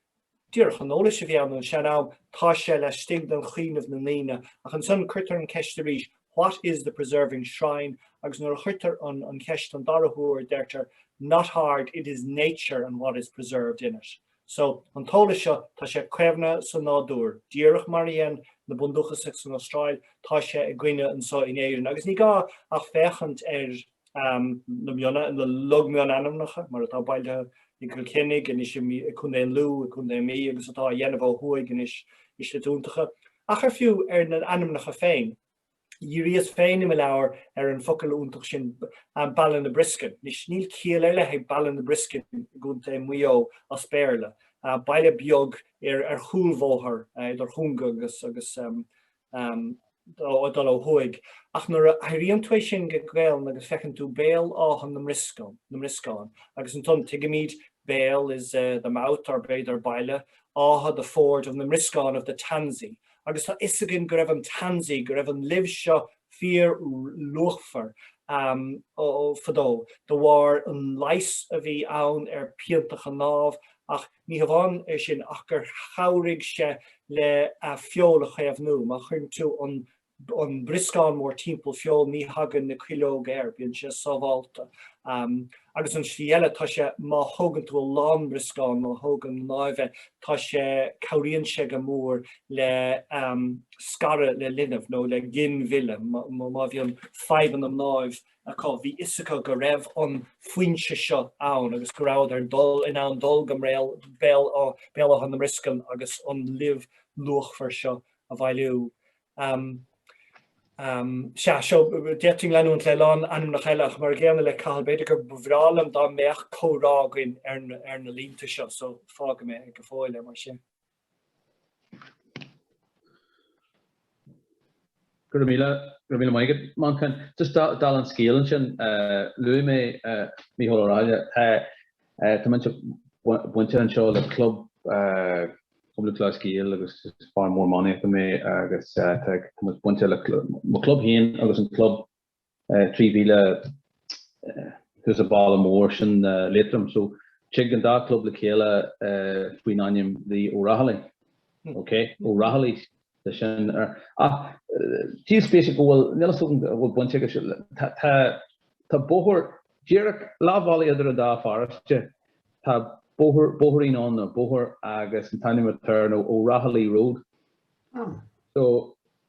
díreach an eolas a bhí ann an sean-am, tá sé laistigh den chuimhneamh na ndaoine. Ach ansan cuirtear an cheist arís, What is the preserving shrine? Agus nuair a chuirtear an cheist an dara huair deirtear, Not hard, it is nature and what is preserved in it. So, an t-eolas seo, tá sé caomhnaithe sa nádúr, díreach mar a dhein na bundúchasaigh san Astráil, tá sé againne anso in Éirinn. Agus ní gá ach féachaint ar. na mionna, na log mionainmneacha, mar atá bailithe i gCill Chainnigh anois, i gContae Lú, i gContae na Mí, agus atá á dhéanamh ó thuaidh anois i slite iontacha, ach ar fiú ar na hainmneacha féin. Dhíríos féin i mo leabhar ar an focal iontach sin, Ballinabrysken. Anois, níl ciall ar leith ag Ballinabrysken i gContae Mhaigh Eo as Béarla, baile beag ar chúlbhóthar idir Chonga agus dul ó thuaidh, ach nuair a athraíonn tú é sin go Gaelainn agus feiceann tú Béal Átha na mBrioscán, agus ansan tuigimid béal is the mouth or b'fhéidir Baile Átha the ford of na mBrioscán of the tansy, agus tá fhios againn go raibh an tansy, go raibh an luibh seo fíor luachmhar fadó de bharr an leigheas a bhí ann ar pianta chnámh, ach. Ní hamháin é sin ach gur chabhraigh sé le feoil a chaomhnú. Má chuireann tú an brioscán mór timpeall feoil ní thagann na cuileoga air, bíonn sé sábhálta. Agus an slí eile tá sé, má thógann tú a lán brioscán, má thógann mnáibh é, tá sé, cabhraíonn sé go mór le scaradh le linbh nó le ginmhilleadh, má bhíonn fadhbanna mnáibh acu, bhí fhios acu go raibh an foinse seo ann agus go rabhadar in ann dul go Béal Átha na mBrioscan agus an luibh luachmhar seo a bhailiú. Sea, seo, d'fhéadfainn leanúint le lán ainmneacha eile ach mar a gcéanna le Cathal, b'fhéidir gur bhreá liom dá mbeadh comhrá againn ar na línte seo, so fágfaidh mé go fóill é mar sin. Go raibh míle, go raibh míle maith agat, Manchán. Just dála an scéil ansin, luaigh mé Mícheál Ó Rathaille. Tá, tá mise bainte anseo le club Club Lúthchleas Gael agus is fear mór iománaíochta mé agus tá mé bainte le mo club féin agus an club 3 mhíle thuas an baile mór sin Liatroim. So tig an dá club le chéile faoin ainm The O'Rahillys. Ok? O'Rahillys de sin. Ach díol spéise go bhfuil, níl fhios agam go bhfuil baint aige sin, tá tá bóthar díreach leathbhealaigh idir an dá pharóiste, tá bóthar, bóithrín ann, nó bóthar agus an t-ainm atá air ná O'Rahilly Road. So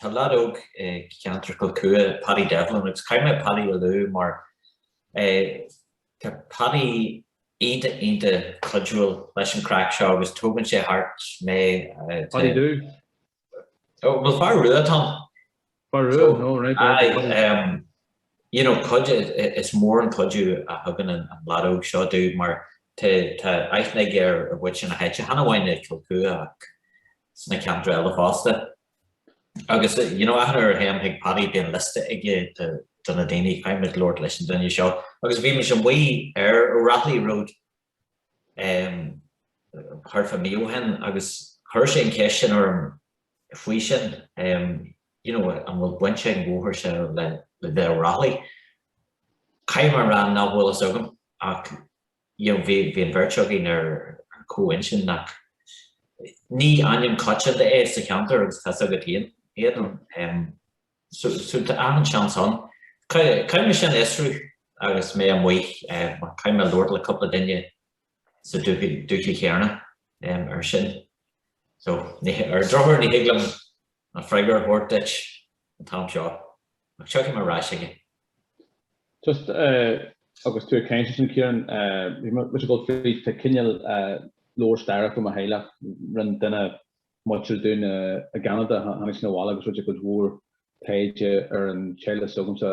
Tá leaid óg i gceantar Chill Chua, Paddy Devlin, agus caithfidh mé Paddy a lua mar tá Paddy iontach, iontach cuidiúil leis an craic seo agus tógann sé thart mé. Paddy who? Bhuel, fear Rua, Tom. Fear Rua? So, no, right. Aye, right. Um, you know, cuid, is mór an cuidiú a thugann an, an leaid óg seo domh mar tá aithne aige ar mhuintir na háite, chan amháin i gCill Chua ach sna ceantar eile fosta. Agus you know achan uair a théim chuig Paddy bíonn liosta aige de na daoine caithfimid labhairt leis an duine seo agus bhí mise amuigh ar O'Rahilly Road ehm thart fá mí ó shin agus chuir sé an cheist sin orm faoi sin ehm you know an bhfuil baint ag an bhóthar seo le le The O'Rahilly? Caithfidh mé a rá nach bhfuil fhios agam ach you know bhí bhí an bheirt againn ar ar comhintinn nach, ní ainm coitianta é sa cheantar agus tá's agat fhéin é em so so tá achan seans ann caithfidh caithfidh mé sin a fhiosrú agus mé amuigh eh mar caithfidh mé labhairt le cúpla duine sa dúthaigh dúthaigh chéanna em ar sin so ní ar an drochuair ní thig liom An freagra a thabhairt duit an t-am seo, ach seo mar atá fhios againn. Just agus tú ag caint ansin, Ciarán, bhí mé ag dul fríd, tá cineál leabhar staire againn fá mo theaghlach. Rinne duine muinteartha dúinn i gCeanada, tháinig seisean abhaile agus rinne sé cuid mhór taighde ar an teaghlach 's thugamar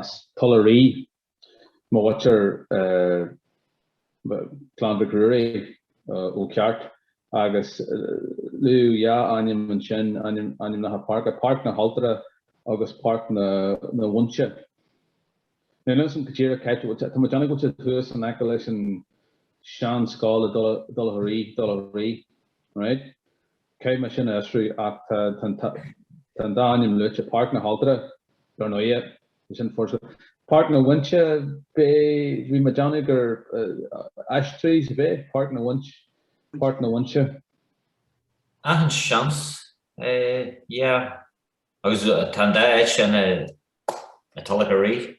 as Tulach Rí, Má tá thú ar Clann Mhic Ruairí ó cheart, agus luadh dhá ainm ansin, ainmneacha páirce, Páirc na hAltóra agus Páirc na bhFuinse. Níl a fhios agam go díreach cá háit a tá. Tá muid ina gcuid thuas in aice leis an sean-scoil i dTulach Rí, Tulach Rí. Cad é mar a aistríodh, ach tá an dá ainm luaite, Páirc na hAltóra, dar ndóighe, é sin furasta. Páirc na bhFuinse, b'fhéidir, bhí mé ag déanamh gur ash trees, b'fhéidir, Páirc na bhFuinse, Páirc na bhFuinse. Achan seans, yeah. Agus tá an dá áit sin i dTulach Rí.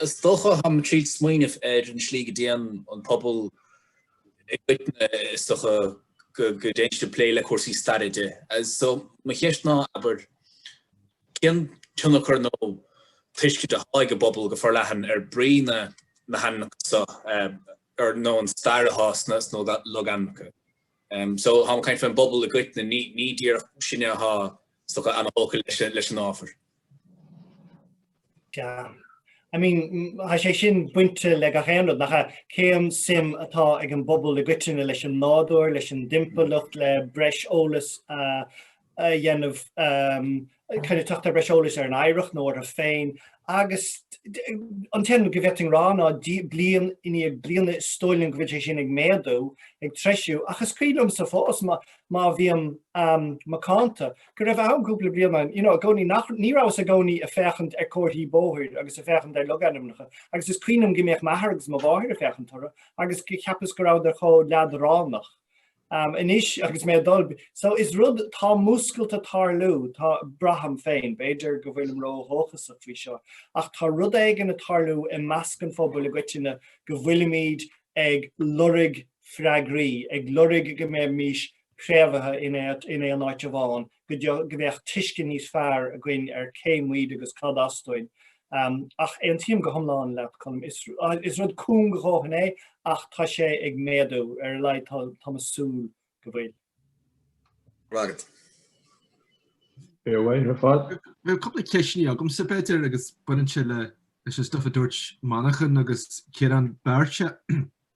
Is dócha tháim ag triail smaoineamh ar an slí go dtéann an pobal i gcoitinne, is dócha go dtéann siad ag plé le cúrsaí staire. So, mo cheist ná, abair, cén tionchar nó tuiscint athá aige an bpobal go forleathan ar brí na hainmneacha so, or nó an stair athá sna logainmneacha? So, thá me ag caint faoin bpobal i gcoitinne, ní díreach sinne athá só ana-thógtha leis an ábhar. Yeah. I mean, tá sé sin bainte le gach aon rud, nach ea? Cén suim atá ag an bpobal i gcoitinne leis an nádúr, leis an dtimpeallacht, le breis eolais a dhéanamh, kind of teacht ar breis eolais ar an oidhreacht nó orthu féin, agus an t-aon rud go bhféadfainn rá ná bliain i ndiaidh bliana is dóigh liom go bhfuil sé sin ag méadú, ag treisiú, ach is cuimhin liomsa fós, má bhím macánta, go raibh, tá an cúpla bliain you know i gcónaí nach, ní rabhas i gcónaí ag féachaint ar comharthaí bóthair agus ag féachaint ar logainmneacha agus is cuimhin liom go mbíodh m'athair agus mo mháthair ag féachaint orthu agus cheapas go rabhadar chomh leadránach. Anois agus mé ag dul, so is rud, tá múscailt ag tarlú, tá, braithim féin, b'fhéidir go bhfuilim ródhóchasach faoi seo, ach tá rud éigin ag tarlú i measc an phobail i gcoitinne go bhfuilimid ag lorg na. freagraí, ag lorg go mbeimís préamhaithe in aon áit amháin, go mbeadh tuiscint níos fearr againn ar cé muid agus cad as duinn. Ach aontaím go hiomlán leat, Colm, is rud cúng a dhóthain é ach tá sé ag méadú, ar a laghad táim ag súil go bhfuil. Go raibh maith agat. Fair play ar fad. Bhuel, cúpla ceist anois agamsa, b'fhéidir, agus baineann sé leis an stuff a dúirt Manchán agus Ciarán beirt.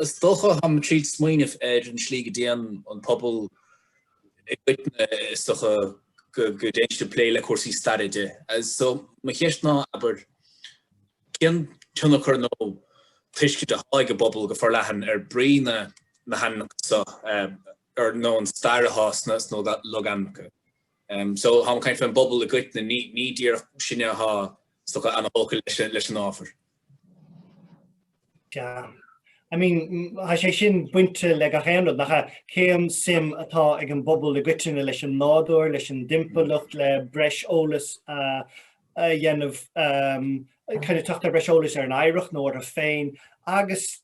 Is dócha, táim díreach ag smaoineamh ar an slí go dtéann an pobal i gcoitinne, is dócha go dtéann siad ag plé le cúrsaí staire de. So, mo cheist ná, abair, cén tionchar nó tuiscint atá ag an bpobal go forleathan ar brí na hainmneacha seo, ar nó an stair atá sna logainmneacha. So, táim ag caint faoin bpobal i gcoitinne, ní díreach sinne atá, is dócha, ana-thógtha leis an ábhar. Yeah. I mean, tá sé sin bainte le gach aon rud, nach ea? Cén suim atá ag an bpobal i gcoitinne leis an nádúr, leis an dtimpeallacht, le breis eolas a dhéanamh, kind of teacht ar breis eolais ar an oidhreacht nó orthu féin, agus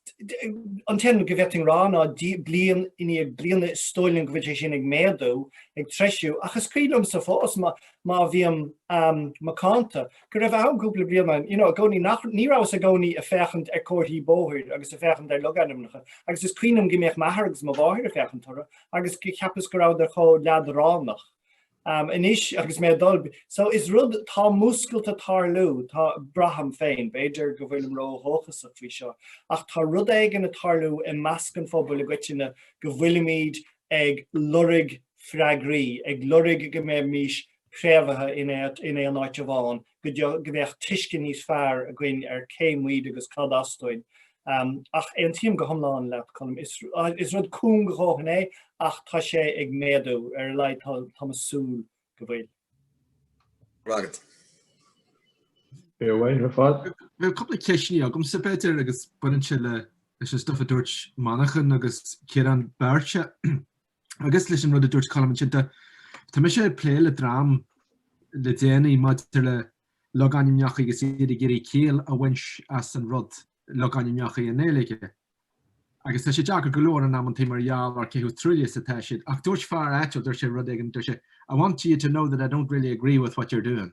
an t-aon rud go bhféadfainn rá ná bliain i ndiaidh bliana is dóigh liom go bhfuil sé sin ag méadú, ag treisiú, ach is cuimhin liomsa fós má bhím macánta. go raibh ann cúpla bliain ann, you know, i gcónaí, nach, ní rabhas i gcónaí ag féachaint ar comharthaí bóthair agus ag féachaint ar logainmneacha, agus is cuimhin liom go mbeadh m'athair agus mo mháthair ag féachaint orthu, agus go gceapas go rabhadar chomh leadránach anois agus mé ag dul, so is rud, tá múscailt ag tarlú, tá, braithim féin, b'fhéidir go bhfuilim ró-dhóchasach faoi seo, ach tá rud éigin ag tarlú i measc an phobail i gcoitinne go bhfuilimid ag lorg freagraí, ag lorg go mbeimís préamhaithe in aon áit amháin, go mbeadh tuiscint níos fearr againn ar cé muid agus cad as duinn. Ach aontaím go hiomlán leat, Colm. Is rud cúng a dhóthain é, ach tá sé ag méadú, ar a laghad táim ag súil go bhfuil. Go raibh maith agat. Fíormhaith ar fad. Bhuel, cúpla ceisteannaí agamsa, b'fhéidir, agus baineann sé leis an stuff a dúirt Manchán agus Ciarán beirt. Agus leis an rud a dúirt Colm ansin de, tá mise ag plé le dream le déanaí maidir le logainmneacha agus iad ag iarraidh ciall a bhaint as an rud logainmneacha i nGaeilge. Agus tá sé deacair go leor in amanntaí mar gheall ar cé chomh truaillithe is atá siad. Ach dúirt fear áitiúil, dúirt sé rud éigin, dúirt sé, I want you to know that I don't really agree with what you're doing.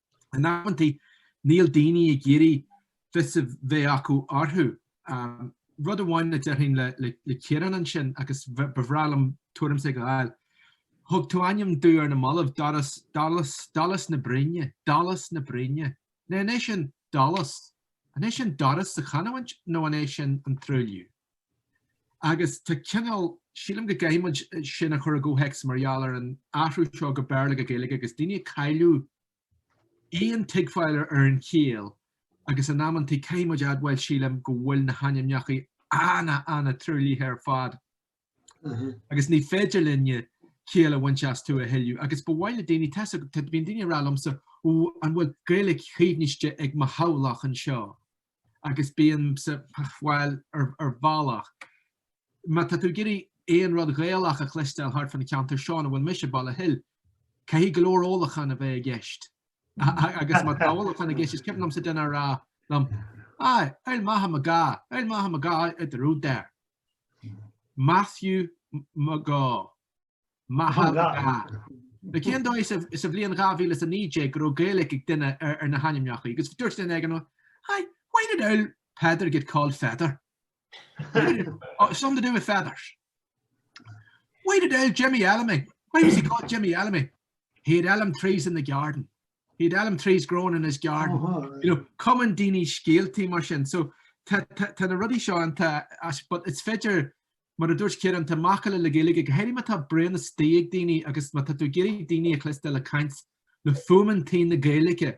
In amanntaí níl daoine ag iarraidh fios a bheith acu orthu. Rud amháin a déarfainn le Ciarán ansin, agus ba bhreá liom tuairim s'agat a fháil, thug tú ainm domh ar na mallaibh, Doras, Dolas, Dolas na Bruíne, Dolas na Bruíne. Now an é sin Dolas? An é sin Doras sa chanamhaint nó an é sin an truailliú? Agus tá cineál, sílim go gcaithfidh muid sin a chur i gcomhthéacs mar gheall ar an athrú seo go Béarla ó Ghaeilge agus daoine ag cailleadh aon tuigbheáil ar an chiall agus in amanntaí caithfidh muid admháil sílim go bhfuil na hainmneachaí an- an-truaillithe ar fad agus ní féidir linne ciall a bhaint astu a thuilleadh agus ba mhaith le daoine tá a fhios agat bíonn daoine a rá liomsa ó an bhfuil Gaeilge caomhnaiste ag mo theaghlach anseo agus bíonn sé, bhuel, ar bhealach, má tá tú ag iarraidh aon rud Gaelach a chloisteáil thart fán cheantar seo ina bhfuil mise, Baile Thuathail, caithfidh go leor ólachán a bheith i gceist. Agus má tá ólachán i gceist, is cuimhin liomsa duine a rá liom, Aye, oul Matha McGahan, oul Matha McGahan out the road there. Matthew McGahan. Maith thú. Cén dóigh sa bhliain 2019 go raibh Gaeilge ag duine ar na hainmneacha agus dúirt duine ag an am, Hi, why did old Peter get called Feather? Something to do with feathers. Why did old Jimmy Elmy, why was he called Jimmy Elmy? He had elm trees in the garden. He had elm trees growing in his garden. You know, cumann daoine scéaltaí mar sin. So, tá na rudaí seo ann, but is féidir Mar a dúirt Ciarán, tá macalla na Gaeilge, go háirithe má tá braon istigh ag daoine agus má tá tú ag iarraidh daoine a chloisteáil ag caint le fuaimeantaí na Gaeilge,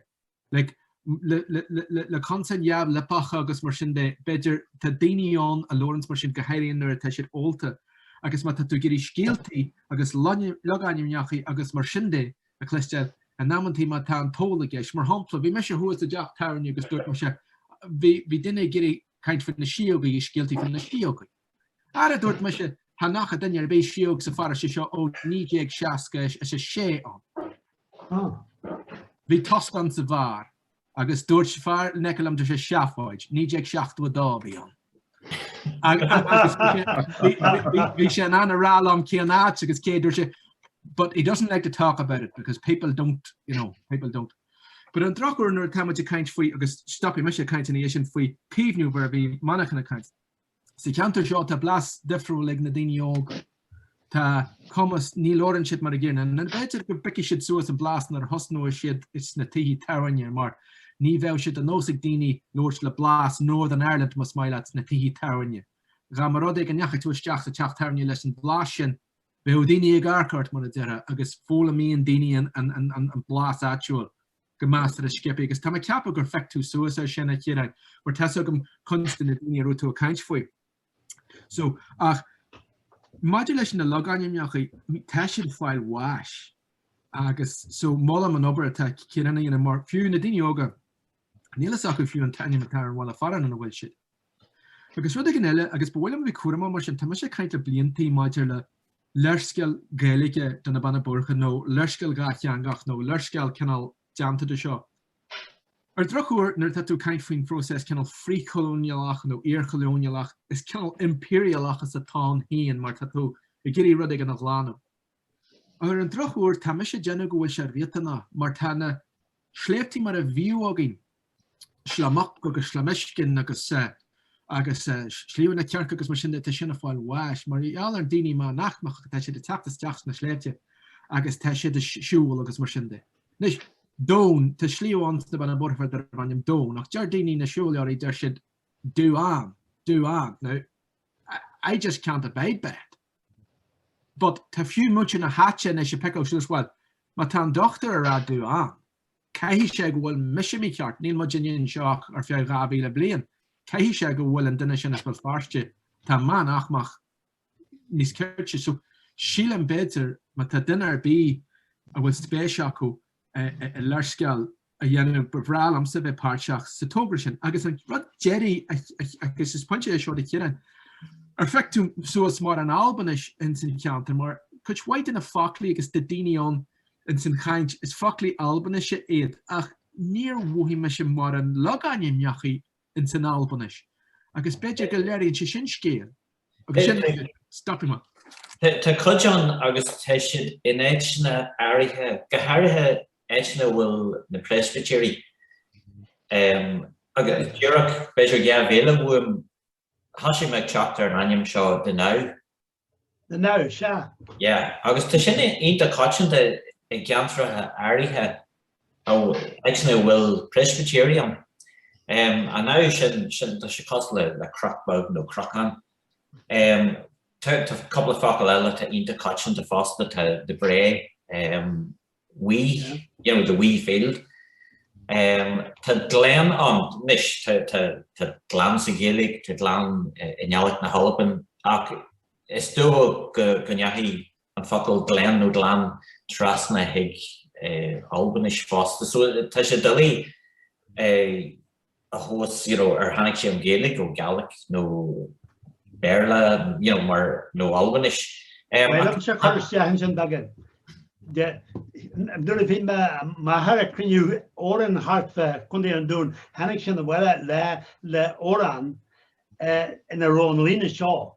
like, le, le, le, le consain neamh-liopacha agus mar sin de, b'fhéidir, tá daoine ann a labhranns mar sin, go háirithe nuair atá siad ólta. Agus má tá tú ag iarraidh scéaltaí agus logainmneachaí agus mar sin de a chloisteáil, in amanntaí má tá an t-ól i gceist. Mar shampla, bhí mise thuas i dteach tábhairne agus dúirt mise, bhí, bhí duine ag iarraidh caint faoi na síógaí, scéaltaí faoi na síógaí. Ara dúirt mise, cha n-fhaca duine ar bith síóg sa pharóiste seo ó 1966. Bhí tost ann sa bheár, agus dúirt fear in aice liom dúirt sé seafóid, 1972 a bhí ann. Agus bhí sé in ann a rá liom cén áit agus cé, dúirt sé, but he doesn't like to talk about it because people don't, you know, people don't. But ar an drochuair nuair atá muid ag caint faoi, agus stopfaidh mise ag caint ina dhiaidh sin faoi caomhnú mar a bhí Manchán ag caint, Sa cheantar seo tá blas difriúil ag na daoine óga. Tá a fhios agam, ní labhrann siad mar a gcéanna. b'fhéidir go bpiocfaidh siad suas an blas nuair a thosnóidh siad sna tithe tábhairne mar ní bheadh sé de nós ag daoine labhairt le blas Northern Ireland más maith leat sna tithe tábhairne. Dhá mba rud é go ndeachaigh tú isteach sa teach tábhairne leis an blas sin, bheadh daoine ag amharc ort mar a déarfá agus foghlaimíonn daoine an blas áitiúil. go measartha sciobtha, agus táim ag ceapadh gur phioc tú suas air sin, a Chiaráin, mar tá 's agam cuid de na daoine a raibh tú ag caint faoi. So, ach, maidir leis na logainmneacha, tá siad ag fáil bháis, agus so molaim an obair atá Ciarán a dhéanamh, mar fiú na daoine óga, níl a fhios acu fiú an t-ainm atá ar an bhaile fearainn ina bhfuil siad. Agus rud éigin eile, agus ba mhaith liom a bheith cúramach mar sin, tá mise ag caint le bliantaí maidir le léarscáil Gaeilge de na Beanna Boirche nó léarscáil dhátheangach nó léarscáil cineál déanta de seo. Ar drochuair, nuair atá tú ag caint faoin phróiseas cineál frith-cholóineálach nó iar-cholóineálach, is cineál impiriálachas atá ann féin mar tá tú ag iarraidh rud éigin a ghlanadh. Ar an drochuair, tá mise ag déanamh go bhfuil sé riachtanach mar tá na sléibhte mar a bhíodh againn, Sliabh Muc agus Sliabh Meascáin agus agus Sliabh na Circe agus mar sin de, tá sin ag fáil bháis. Mar gheall ar na daoine meánaicmeacha tá siad ag teacht isteach sna sléibhte agus tá siad ag siúl agus mar sin de. Anois, Doan, tá sliabh ann sna Beanna Boirche darb ainm Doan ach deir daoine na siúlóirí deir siad Dú-an, Dú-an. Now, I just can't abide by it. But tá fiú muintir na háite anois ag piceáil suas, bhuel, má tá an dochtúir ag rá Dú-an, caithfidh sé go bhfuil mise mícheart, níl muid anseo ach ar feadh dhá mhíle bliain, caithfidh sé go bhfuil an duine sin as Béal Feirste, atá meánaicmeach níos cirte. So sílim b'fhéidir má tá duine ar bith a bhfuil spéis acu i léarscáil a dhéanamh, ba bhreá liomsa bheith páirteach sa togra sin. Agus an rud deiridh, agus is pointe é seo do Chiarán, ar phioc tú suas mórán Albainis ins an cheantar, mar cuid mhaith de na foclaí agus de daoine ann ins an chaint, is foclaí Albainise iad, ach níor mhothaigh mise mórán logainmneacha ins an Albainis, agus b'fhéidir go léiríonn sé sin scéal, agus sin é, stopfaidh mé. Tá cuid ann agus tá siad in áiteanna áirithe, go háirithe áiteanna a bhfuil na Preispitéirí, agus díreach b'fhéidir dhá mhíle uaim, thosaigh mé ag teacht ar an ainm seo The Knowe. The Knowe, sea. Yeah, agus tá sin iontach coitianta i gceantracha áirithe ina bhfuil Presbyterian. Em, an knowe sin, sin, tá sé cosúil le, le cnoc beag nó cnocán. Em, tá, tá cúpla focal eile atá iontach coitianta fosta, tá the brae, em, wee, you know, the wee field. Tá glen ann anois, tá gleann sa Ghaeilge, tá gleann i nGàidhlig na hAlban ach is dócha go ndeachaigh an focal glen nó gleann trasna chuig Albainis fosta so tá sé doiligh é a thomhas you know ar tháinig sé ón Ghaeilge, nó Gàidhlig, nó Béarla, you know mar nó Albainis. Bhuel agus seo cur isteach ansin beagán de, nuair a bhí m'athair ag cruinniú amhrán thart fá Chontae an Dúin tháinig sé abhaile le le hamhrán ina raibh an líne seo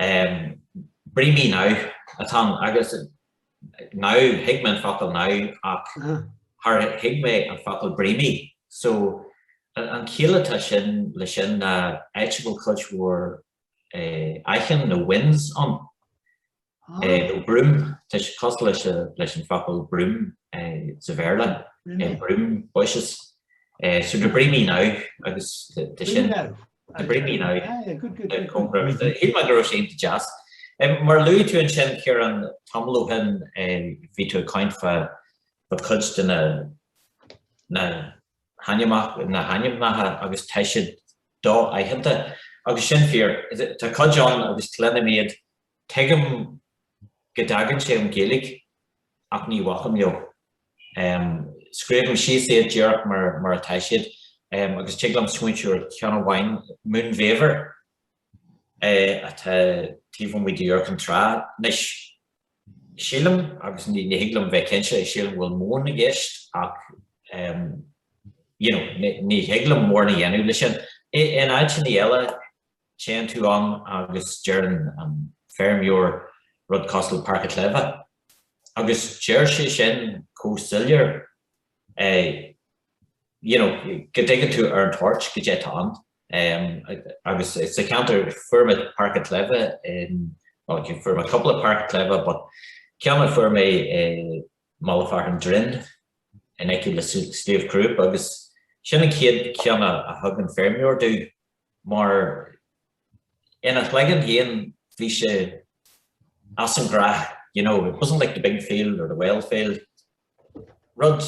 Breemy Knowe atá ann, agus knowe, thuig mé an focal knowe ach char thuig mé an focal breemy. So, an chiall atá sin le sin ná áit a bhfuil cuid mhór aitinn nó whins ann, nó broom, tá sé cosúil leis an focal broom sa Bhéarla, broom bushes. So, the Breemy Knowe, agus tá sin. the Breemy Knowe. Shíl mé go raibh sé iontach deas. Mar a luaigh tú ansin Ciarán, tamall ó shin bhí tú ag caint fá fá cuid de na na na hainmneacha agus tá siad do-aitheanta. Agus sin fíor. Tá cuid ann agus cluinim iad Tuigim go dtagann sé ón Ghaeilge ach ní bhacaim leo. Scríobhaim síos iad díreach mar atá siad agus tig liom smaointiú ar cheann amháin, Moon Vaver, atá taobh amuigh d'Iúr Cinn Trá. Anois, sílim, agus ní thig liom bheith cinnte, sílim go bhfuil móin i gceist ach you know ní thig liom mórán a dhéanamh leis sin. In áiteanna eile, Téann tú ann agus deireann an feirmeoir rud cosúil Páirc an tSléibhe. Agus deir sé sin chomh soiléir you know go dtuigeann tú ar an toirt goidé atá ann. Agus sa cheantar, fuair mé Páirc an tSléibhe in, bhuel fuair mé cúpla Páirc an tSléibhe but ceann a fuair mé i Mullach Fearainn Droinn in aici le Sliabh Crúb agus sin an chéad cheann a thug an feirmeoir domh. Mar ina chloigeann féin bhí sé as an ghnách, you know, it wasn't like the big field or the well field. Rud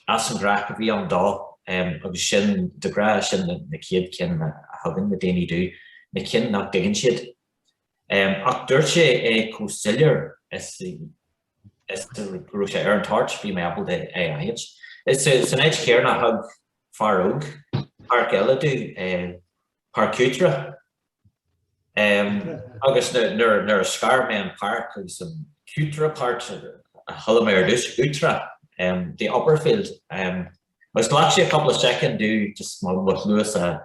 as an ghnách a bhí ann dó agus sin de ghnáth, sin na céad cinn a thugann na daoine domh, na cinn nach dtuigeann siad. Ach dúirt sé é chomh soiléir is go raibh sé ar an toirt, bhí mé ábalta. Is san áit chéanna a thug fear óg, páirc eile domh, Páirc Uachtrach. Agus nuair a scar mé an páirc agus an uachtrach part, chuala mé ar dtús, uachtrach, the upper field. Agus ghlac sé cúpla soicind domh just mo chluasa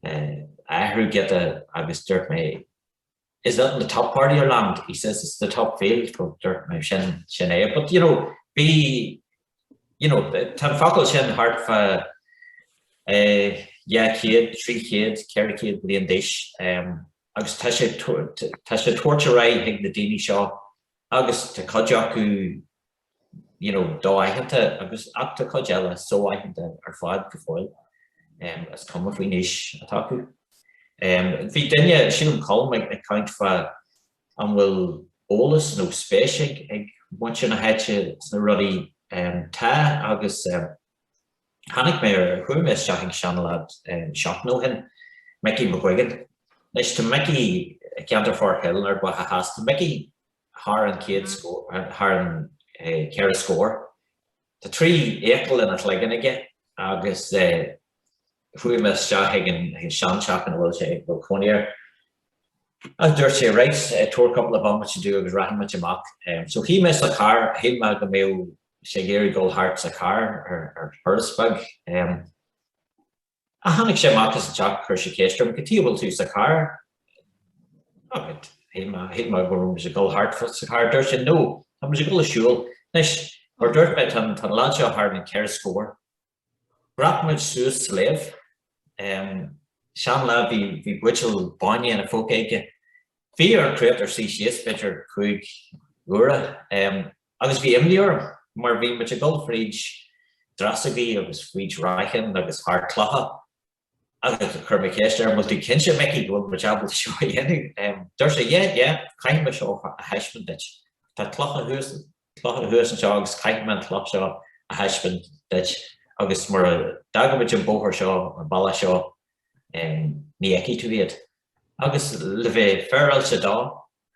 a athrú giota agus dúirt mé is that in the top part of your land he says it's the top field ó dúirt mé sin sin é but you know bhí you know tá an focal sin thart fá eh, dhá chéad trí chéad ceithre chéad bliain d'aois um, agus tá sé tá sé tabhairt ar aghaidh chuig na daoine seo agus tá cuid acu you know, do-aitheanta agus ach tá cuid eile so-aitheanta ar fad go fóill. Is cuma faoin aois atá acu. Bhí duine, sílim Colm, ag caint fá an bhfuil eolas nó spéis ag ag muintir na háite sna rudaí. Tá agus tháinig mé ar, chuaigh mé isteach ag seanleaid seachtain ó shin, Micí McGuigan. Anois tá Micí i gceantar Forkhill, Ard Mhacha Theas. Tá Micí thar an chéad scór, thar an cheithre scór. Tá trí fhiacail ina chloigeann aige agus chuaigh mé isteach ag an seanteach ina bhfuil sé, a bhfuil cónaí air, agus dúirt sé, right, tabhair cúpla bomaite domh agus rachaidh muid amach. So shuigh mé sa charr, shíl mé go mbeadh sé ag iarraidh dul thart sa charr ar thuras beag. a tháinig sé amach as an teach chuir sé ceist orm, cad chuige a bhfuil tú sa charr? Alright, shíl mé, shíl mé go raibh muid ag dul thart fá sa charr dúirt sé no, tá muid ag dul ag siúl. Anois, mar dúirt mé tá an lad seo thar na ceithre scór. Dhreap muid suas sléibh, em, sean lad, bhí, bhí buidéal bainne ina phóca aige. Bhí ar an chréatúr suí síos b'fhéidir cúig uaire, em, Agus bhí imní orm, mar bhí muid ag dul fríd dreasógaí agus fríd raithneach agus thar clocha. Agus chuir mé ceist air, bhfuil tú cinnte, a Mhicí, go bhfuil muid ábalta seo a dhéanamh? Dúirt sé, yeah, yeah, caithfidh mé seo a thaispeáint duit. Tá clocha thuas, clocha thuas anseo agus caithfidh mé an chloch seo a thaispeáint duit agus mura dtaga muid an bóthar seo, an bealach seo, ní fheicfidh tú iad. Agus le bheith féaráilte dó,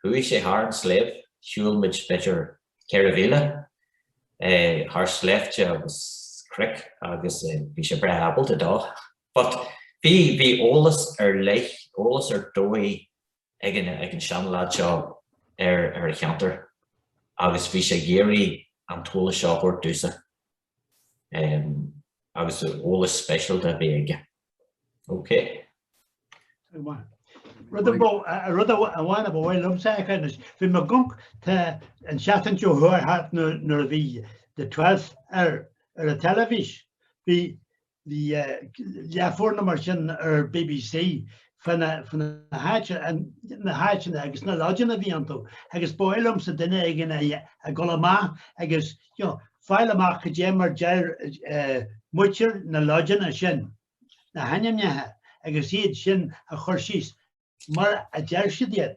Chuaigh sé thar an sléibh, shiúil muid b'fhéidir ceithre mhíle, thar sléibhte agus cnoic agus bhí sé breá ábalta dó. But bhí, bhí eolas ar leith, eolas ar dóigh ag an, ag an seanleaid seo ar, ar an cheantar agus bhí sé ag iarraidh an t-eolas seo a thabhairt domhsa. agus eolas speisialta a bhí aige. OK. Rud amháin a ba mhaith liomsa a chur anois, bhí mé ag amharc, tá, an tseachtain seo chuaigh thart nuair a bhí The Twelfth ar an teilifís, bhí Bhí leathuair nó mar sin ar BBC faoi na háiteanna agus na lodgeanna a bhí iontu agus ba mhaith liomsa duine éigin a dhul amach agus fáil amach cad é mar deir muintir na lodgeanna sin, na hainmneacha, agus iad sin a chur síos mar a deir siad iad.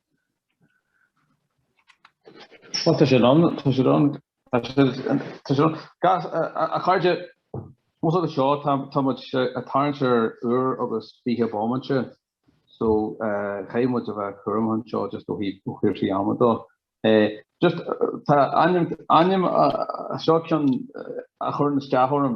Tá siad ann, tá siad ann, tá siad ann, tá siad ann. Gas, a chairde, ós rud é seo, tá, tá muid ag tarraingt ar uair agus fiche bomaite, so caithfidh muid a bheith cúramach anseo just ó thaobh cúrsaí ama de. Just, tá ainm, ainm, seo ceann a chuireann isteach orm.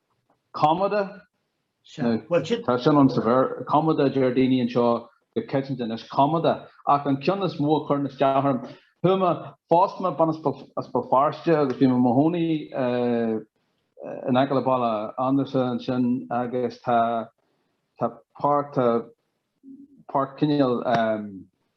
Commodore? Sea. Bhuel, sin. Tá sin ann sa Bhéarla. Commedagh a deir daoine anseo go coitianta anois. Commedagh. Ach an ceann is mó a chuireann isteach orm, chuaigh mé, phós mé bean as Béal Feirste agus bhí mé i mo chónaí in aice le Baile Andarsan ansin agus tá, tá páirc, tá páirc cineál,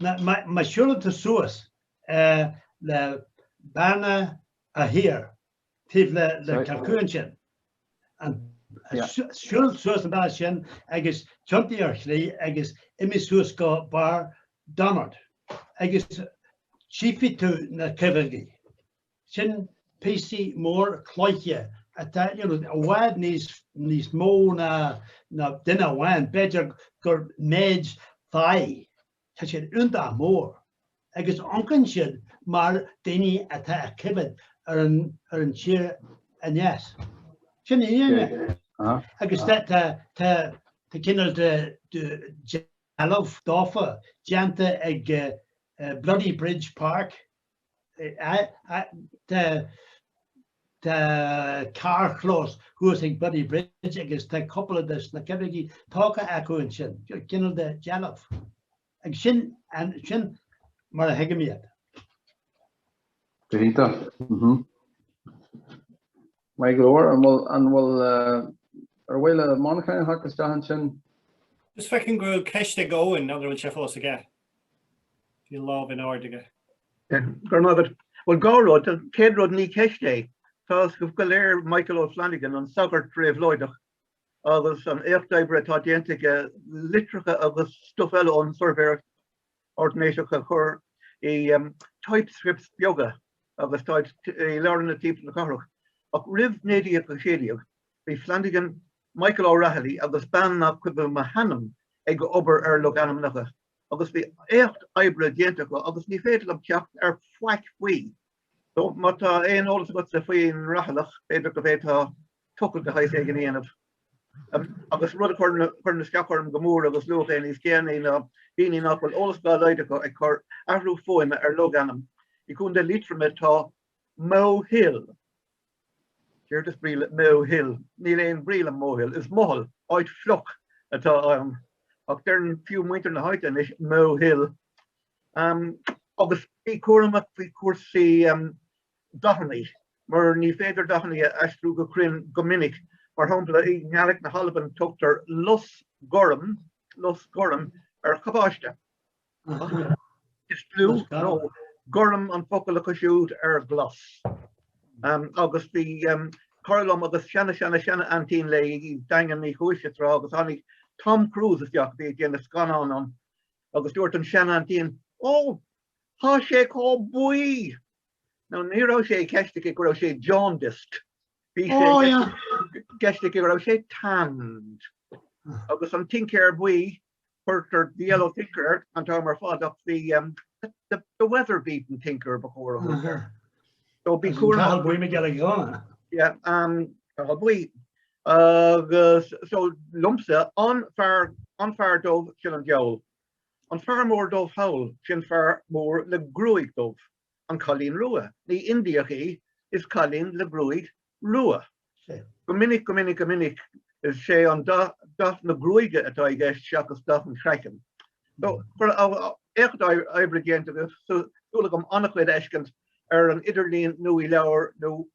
Má shiúlann tú suas le Bearna Uí hÍr, taobh le Kilcoo ansin, siúil suas an bealach sin agus tiontaigh ar chlé agus imigh suas go barr Donard agus tchífidh tú na Coimhéadaithe. Sin píosaí mór cloiche atá i bhfad níos mó ná duine amháin, b'fhéidir gur méid fathaigh. Tá siad iontach mór agus amharcann siad mar daoine atá ag coimhéad ar an tír aneas. Sin é. Agus tá cineál de dealbh daofa déanta ag Bloody Bridge Park Tá carrchlós thuas ag Bloody Bridge agus tá cúpla de na Coimhéadaithe tógtha acu ansin, cineál de dealbh, agus sin sin mar a thuigim iad. Go hiontach. Maith go leor, an bhfuil, an bhfuil, ar mhaith le Manchán a theacht isteach ansin? Just feicim go bhfuil ceist ag Eoin, an bhfuil sé fós aige? Bhí lámh in airde aige. Go raibh maith agat. Bhuel, dhá rud, an chéad rud, ní ceist é. Tá a fhios go léir Michael O'Flanagan, an sagart réabhlóideach, agus an éacht oibre atá déanta aige, litreacha agus stuff eile ón tsuirbhéireacht, ordanáiseach a chur i typescripts beaga agus táid i leabharlanna timpeall na cathrach, ach roimh 1916 bhí Flanagan, Michael O'Rahilly agus bean nach cuimhin liom a hainm ag obair ar logainmneacha, agus bhí éacht oibre déanta acu agus ní féidir liom teacht ar faic faoi. So, má tá aon eolas agatsa faoin Rathailleach, b'fhéidir go bhféadfá tochailt go háit éigin a dhéanamh. Agus rud a chuireann isteach orm go mór agus luadh é níos déanaí ná daoine nach bhfuil eolas dá laghad acu ag cur athrú fuaime ar logainm. I gContae Liatroma tá Mohill. Céard is brí le Mohill? Níl aon bhrí le Mohill. Is maothail, áit fliuch, atá ann. Ach deireann fiú muintir na háite anois Mohill. Agus bí cúramach faoi chúrsaí dathannaí, mar ní féidir dathannaí a aistriú go cruinn go minic. Mar shampla, i nGaelic na hAlban tugtar lus gorm, lus gorm, ar chabáiste. Is blue nó gorm an focal acu siúd ar glas. Agus bhí cara liom agus seana-seana-seana-aintín léi i Daingean Uí Chúise tráth agus tháinig Tom Cruise isteach, a bhí ag déanamh scannán ann, agus dúirt an sean-aintín, Ó, tá sé chomh buí! Now ní raibh sé i gceist aici go raibh sé jaundiced, bhí sé i gceist aici go raibh sé tanned. Agus an tincéir buí, chuirtear the yellow tinker ar an t-am ar fad ach the weather-beaten tinker ba chóir a thabhairt air. So bí cúramach. Cathal Buí Mac Giolla Ghunna. Yeah, Cathal Buí. Agus so liomsa, an fear, an fear dubh sin an diabhal. An fear mór dubh thall, sin fear mór le gruaig dhubh. An cailín rua, ní Indiach í, is cailín le gruaig rua. Go minic, go minic, go minic, is é an dath, dath na gruaige atá i gceist seachas dath an chraicinn. So éacht oibre déanta agaibh, súil agam ana-chuid a fheiscint ar an idirlíon nó i leabhair nó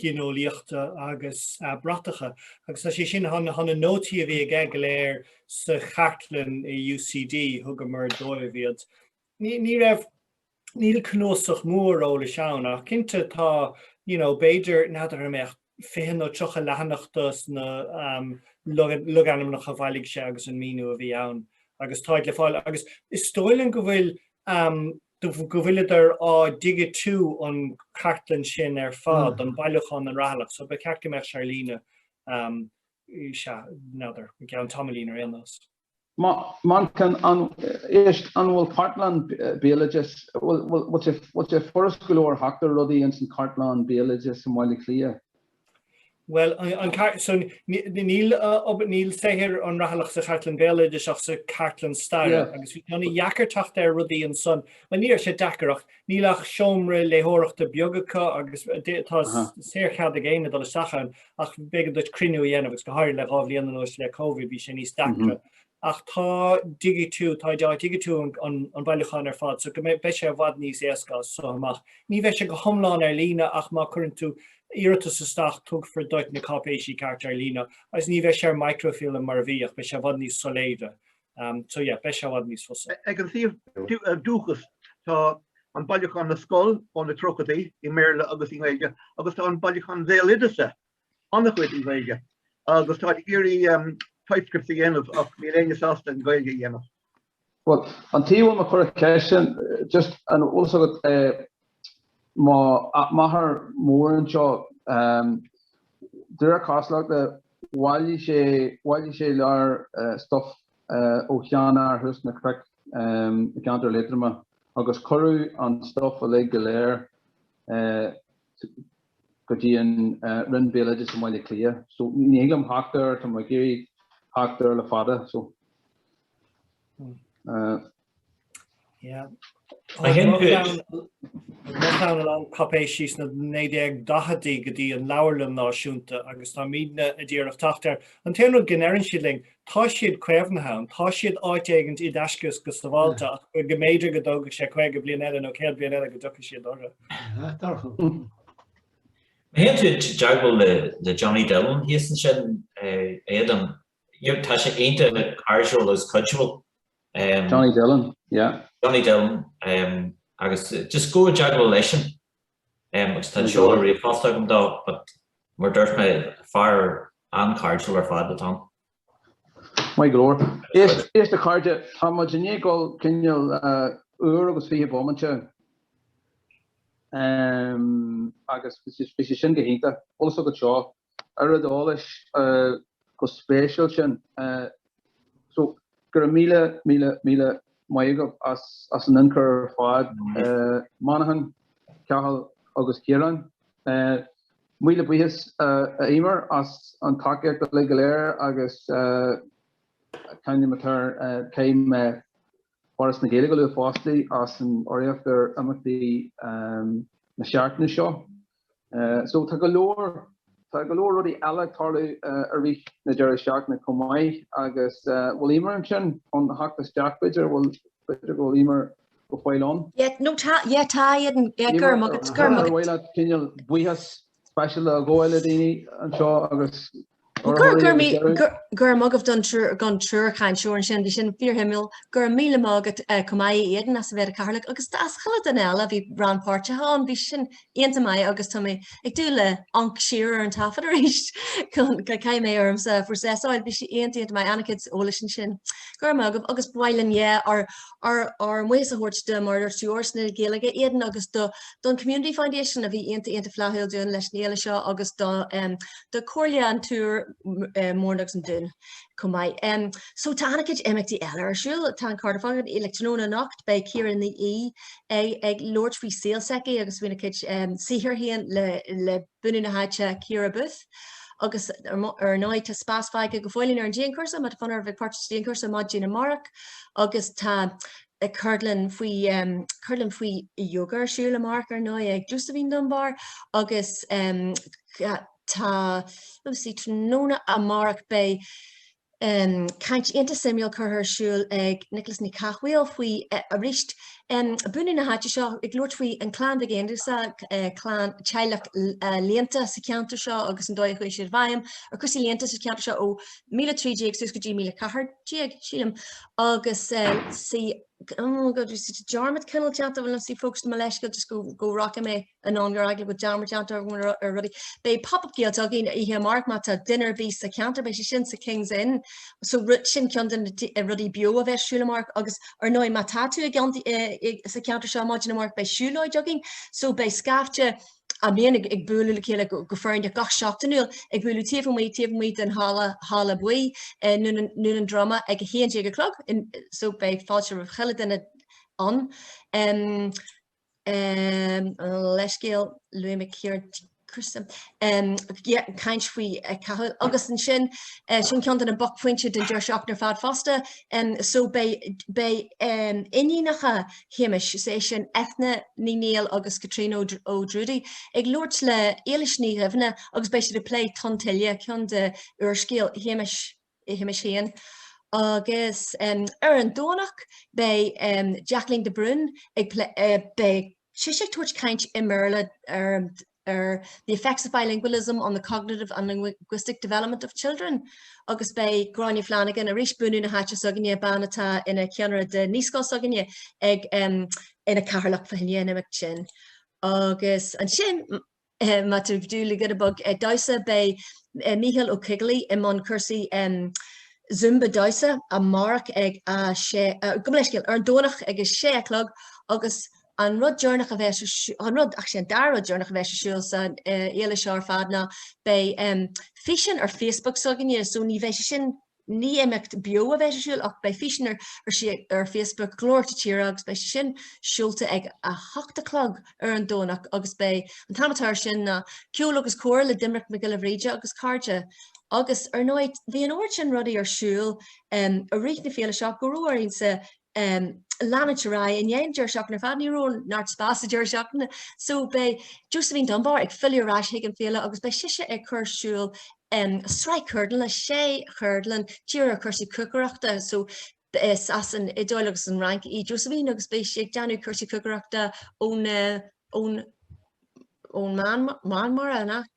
gineolaíochta agus bratacha agus tá sé sin sna nótaí a bhí aige go léir sa chartlann i UCD, thugamar dóibh iad. Ní raibh, níl cnuasach mór eolais ann ach cinnte tá you know b'fhéidir, n'fheadar an mbeadh fiche nó tríocha leathanach dos na logainmneacha a bhailigh sé agus an míniú a bhí ann agus táid le fáil agus is dóigh linn go bhfuil go bhfuileadar á dhigitiú an cartlann sin ar fad, do bhailiúchán an Rathailligh, so ba cheart go mbeadh sé ar líne, sea, n'fheadar, i gceann tamaillín ar aon nós. Manchán, is, an bhfuil cartlann béaloidis, bhfuil sé furast go leor teacht ar rudaí ins an cartlann béaloidis i mBaile Átha Cliath? Bhuel, an cartlann, so níl, níl saothar an Rathailligh sa chartlann béaloidis ach sa cartlann staire agus bhí sé ana-dheacair teacht ar rudaí ansan, bhuel ní raibh sé deacair ach níl ach seomra léitheoireachta beag acu agus tá saorchead ag éinne dul isteach ann ach b'éigean duit cruinniú a dhéanamh agus go háirithe le dhá bhliain anuas le Covid bhí sé níos deacra ach tá digitiú, táthar ag digitiú an bhailiúcháin ar fad so go mbeidh, beidh sé i bhfad níos éasca as so amach. Ní bheidh sé go hiomlán ar líne ach má chuireann tú iarratas isteach tugfar duit na cáipéisí cearta ar líne agus ní bheidh sé ar microfilm mar a bhí ach beidh sé i bhfad níos soiléire so yeah beidh sé i bhfad níos fusa. Ag an suíomh Dúchas tá an bailiúchán na scol ó na tríochadaí i mBéarla agus i nGaeilge agus tá an bailiúchán Bhéaloideasa an-chuid i nGaeilge agus táid ag iarraidh typescript a dhéanamh ach níl éinne sásta an Ghaeilge a dhéanamh. Bhuel, an tuige a bhfuil mé ag cur an cheist sin, just an bhfuil fhios agat eh m'athair mór anseo ehm de réir cosúlachta bhailigh sé bhailigh sé lear eh stuff eh ó sheanfhear thuas sna cnoic ehm i gceantar Liatroma agus cuireadh an stuff uilig go léir eh go dtí an Roinn Béaloideas i mBaile Átha Cliath. So ní thig liom theacht air, tá mé ag iarraidh theacht air le fada. So I think that Loch Anna Long cáipéisí sna 1940idí go dtí an Leabharlann Náisiúnta agus táimidne ag iarraidh teacht air. An t-aon rud go ndeireann siad linn, tá siad caomhnaithe ann, tá siad áit éigin i dtaisce go sabháilte ach go mb'fhéidir go dtógfadh sé caoga bliain eile nó céad bliain eile go dtiocfaidh siad orthu. Theacht orthu. Má théann tú i dteagmháil le Johnny Dillon thíos ansin, Aodán, tá sé iontach cairdiúil agus cuidiúil. Johnny Dillon, yeah. Johnny Dillon, agus just gabh i dteagmháil leisean. agus tá an seoladh ríomhphost agam dó but mar a dúirt mé fear an-chairdiúil ar fad atá ann. Maith go leor. Éist, a chairde, tá muid i ndiaidh dul cineál uair agus fiche bomaite agus bhí sé sin go hiontach. Tá a fhios agat seo. oiread eolais chomh spéisiúil sin. So, go raibh míle, míle, míle maith agaibh as an ionchur ar fad. Manchán, Cathal agus Ciarán. Míle buíochas a Eimear as an tacaíocht uilig go léir agus caithfidh mé a rá, caithfidh mé Foras na Gaeilge a lua fosta as an urraíocht ar imeachtaí na seachtaine seo. So tá go leor, tá go leor rudaí eile ag tarlú i rith na deireadh seachtaine chomh maith agus bhfuil Eimear ansin chun theacht isteach b'fhéidir, bhfuil, b'fhéidir go bhfuil Eimear go fóill ann? Yeah, no tá, yeah tá, go raibh maith agat, bhuel cineál buíochas speisialta a ghabháil le daoine anseo agus Gura maith agaibh don triúr cainteoir ansin, bhí sin fíorshuimiúil. Gura míle maith agat chomh maith a Aidan as a bheith id chathaoirleach agus as chuile dhuine eile a bhí rannpháirteach ann, bhí sin iontach maith agus tá mé ag dúil le hamharc siar ar an taifead arís chun go gcaithfidh mé ormsa a phrosesáil, bhí sé iontach iontach maith, an-chuid eolais ansin. Gura maith agaibh agus ba mhaith linn, yeah, ár mbuíochas a thabhairt do mar a dúirt Foras na Gaeilge, Aidan, agus don Community Foundation a bhí iontach iontach flaithiúil dúinn leis an fhéile seo agus do do Chomhairle an tIúr, Múrn agus an Dún chomh maith. So tá an-chuid imeachtaí eile ar siúl. Tá an Cardiff againn le tráthnóna anocht, beidh Ciara Ní É ag labhairt faoi saol s'aici agus faoina cuid saothar féin le bunadh na háite Ciara Booth. Agus ar ndóigh tá spás fágtha go fóillín ar an dianchúrsa má tá fonn oraibh bheith páirteach sa dianchúrsa maidin amárach. Agus tá ceardlann faoi ceardlann faoi yoga ar siúl amárach ar ndóigh ag Josephine Dunbar agus tá sí tráthnóna amárach beidh caint iontach suimiúil curtha ar siúl ag Nioclás Mac Cathmhaoil faoi arís bunadh na háite seo ag labhairt faoi an clann Mhic Aonghusa clann teaghlach léannta sa cheantar seo agus an dóigh a chuaigh siad i bhfeidhm ar cúrsaí léannta sa cheantar seo ó 1013 suas go dtí 1014 sílim agus sí oh god is it a dearmad cineál déanta bhfuil sí fócas mo leithscéal just go go rachaidh mé an an ar eagla go dearmad déanta ar rudaí beidh pop-up Gaeltacht againn oíche amárach má tá duine ar bith sa ceantar beidh sé sin sa King's Inn so rud sin ceann de na rudaí beo a bheidh ar siúl amárach agus ar ndóigh má tá tú i gceann sa ceantar seo maidin amárach beidh siúlóid againn so beidh scaifte a mbíonn ag, ag bualadh le chéile go, go foirne gach seachtainiúil, ag bualadh taobh amuigh, taobh amuigh den halla, halla buí, eh, nDún an, nDún an Droma ag a haon déag a chlog, in, so beidh fáilte roimh chuile duine ann. Em, em, leithscéal, luaigh mé Ciarán Criste, em, yeah, caint faoi Chathail agus ansin, eh, sin ceann de na buaicphointe den deireadh seachtaine ar fad fosta, em, so beidh, beidh, em, iníonacha Shéamais, is é sin Eithne Ní Néill agus Caitríona O'Drudy, ag labhairt le Éilis Ní Dhuibhne agus beidh siad ag plé Tonn Tuile, ceann de úrscéal Shéamais, Shéamais féin. Agus ar an Domhnach beidh Jacqueline de Brún ag plé, beidh sise ag tabhairt caint i mBéarla ar ar The effects of bilingualism on the cognitive and linguistic development of children agus beidh Gráinne Flanagan, arís bunadh na háite s'againne, bean atá ina ceannaire de naíscoil s'againne, ag ina Cathaoirleach fá choinne an imeacht sin. Agus ansin, má tá tú ag dúil le giota beag damhsa, beidh Mícheál Ó Coigligh i mbun cúrsaí Zumba damhsa amárach ag a sé, gabh mo leithscéal, ar an Domhnach ag a sé a chlog agus An rud deireanach a bheas, an rud, actually, an dara rud deireanach a bheas ar siúl sa fhéile seo ar fad ná beidh físeán ar Facebook s'againne, so ní bheidh sé sin, ní imeacht beo a bheas ar siúl ach beidh físeán ar, ar Facebook, Glórtha na Tíre agus beidh sé sin ar siúl ag a hocht a chlog ar an Domhnach agus beidh, an t-ainm atá ar sin ná Ceol agus Comhrá le Doimnic Mac Giolla Bhríde agus cairde. Agus ar ndóigh bhí an oiread sin rudaí ar siúl i rith na féile seo go raibh orainn sa em, leanúint ar aghaidh i ndiaidh an deireadh seachtaine ar fad, ní raibh neart spás sa deireadh seachtaine, so beidh Josephine Dunbar ag filleadh ar ais chuig an fhéile agus beidh sise ag cur ar siúl, em, sraith ceardlann, sé cheardlann, dírithe ar chúrsaí cócaireachta, so, is as an Iodáil agus an Fhrainc í Josephine agus beidh sí ag déanamh cúrsaí cócaireachta ó na, ón, ón Meán, Meán Mara, nach?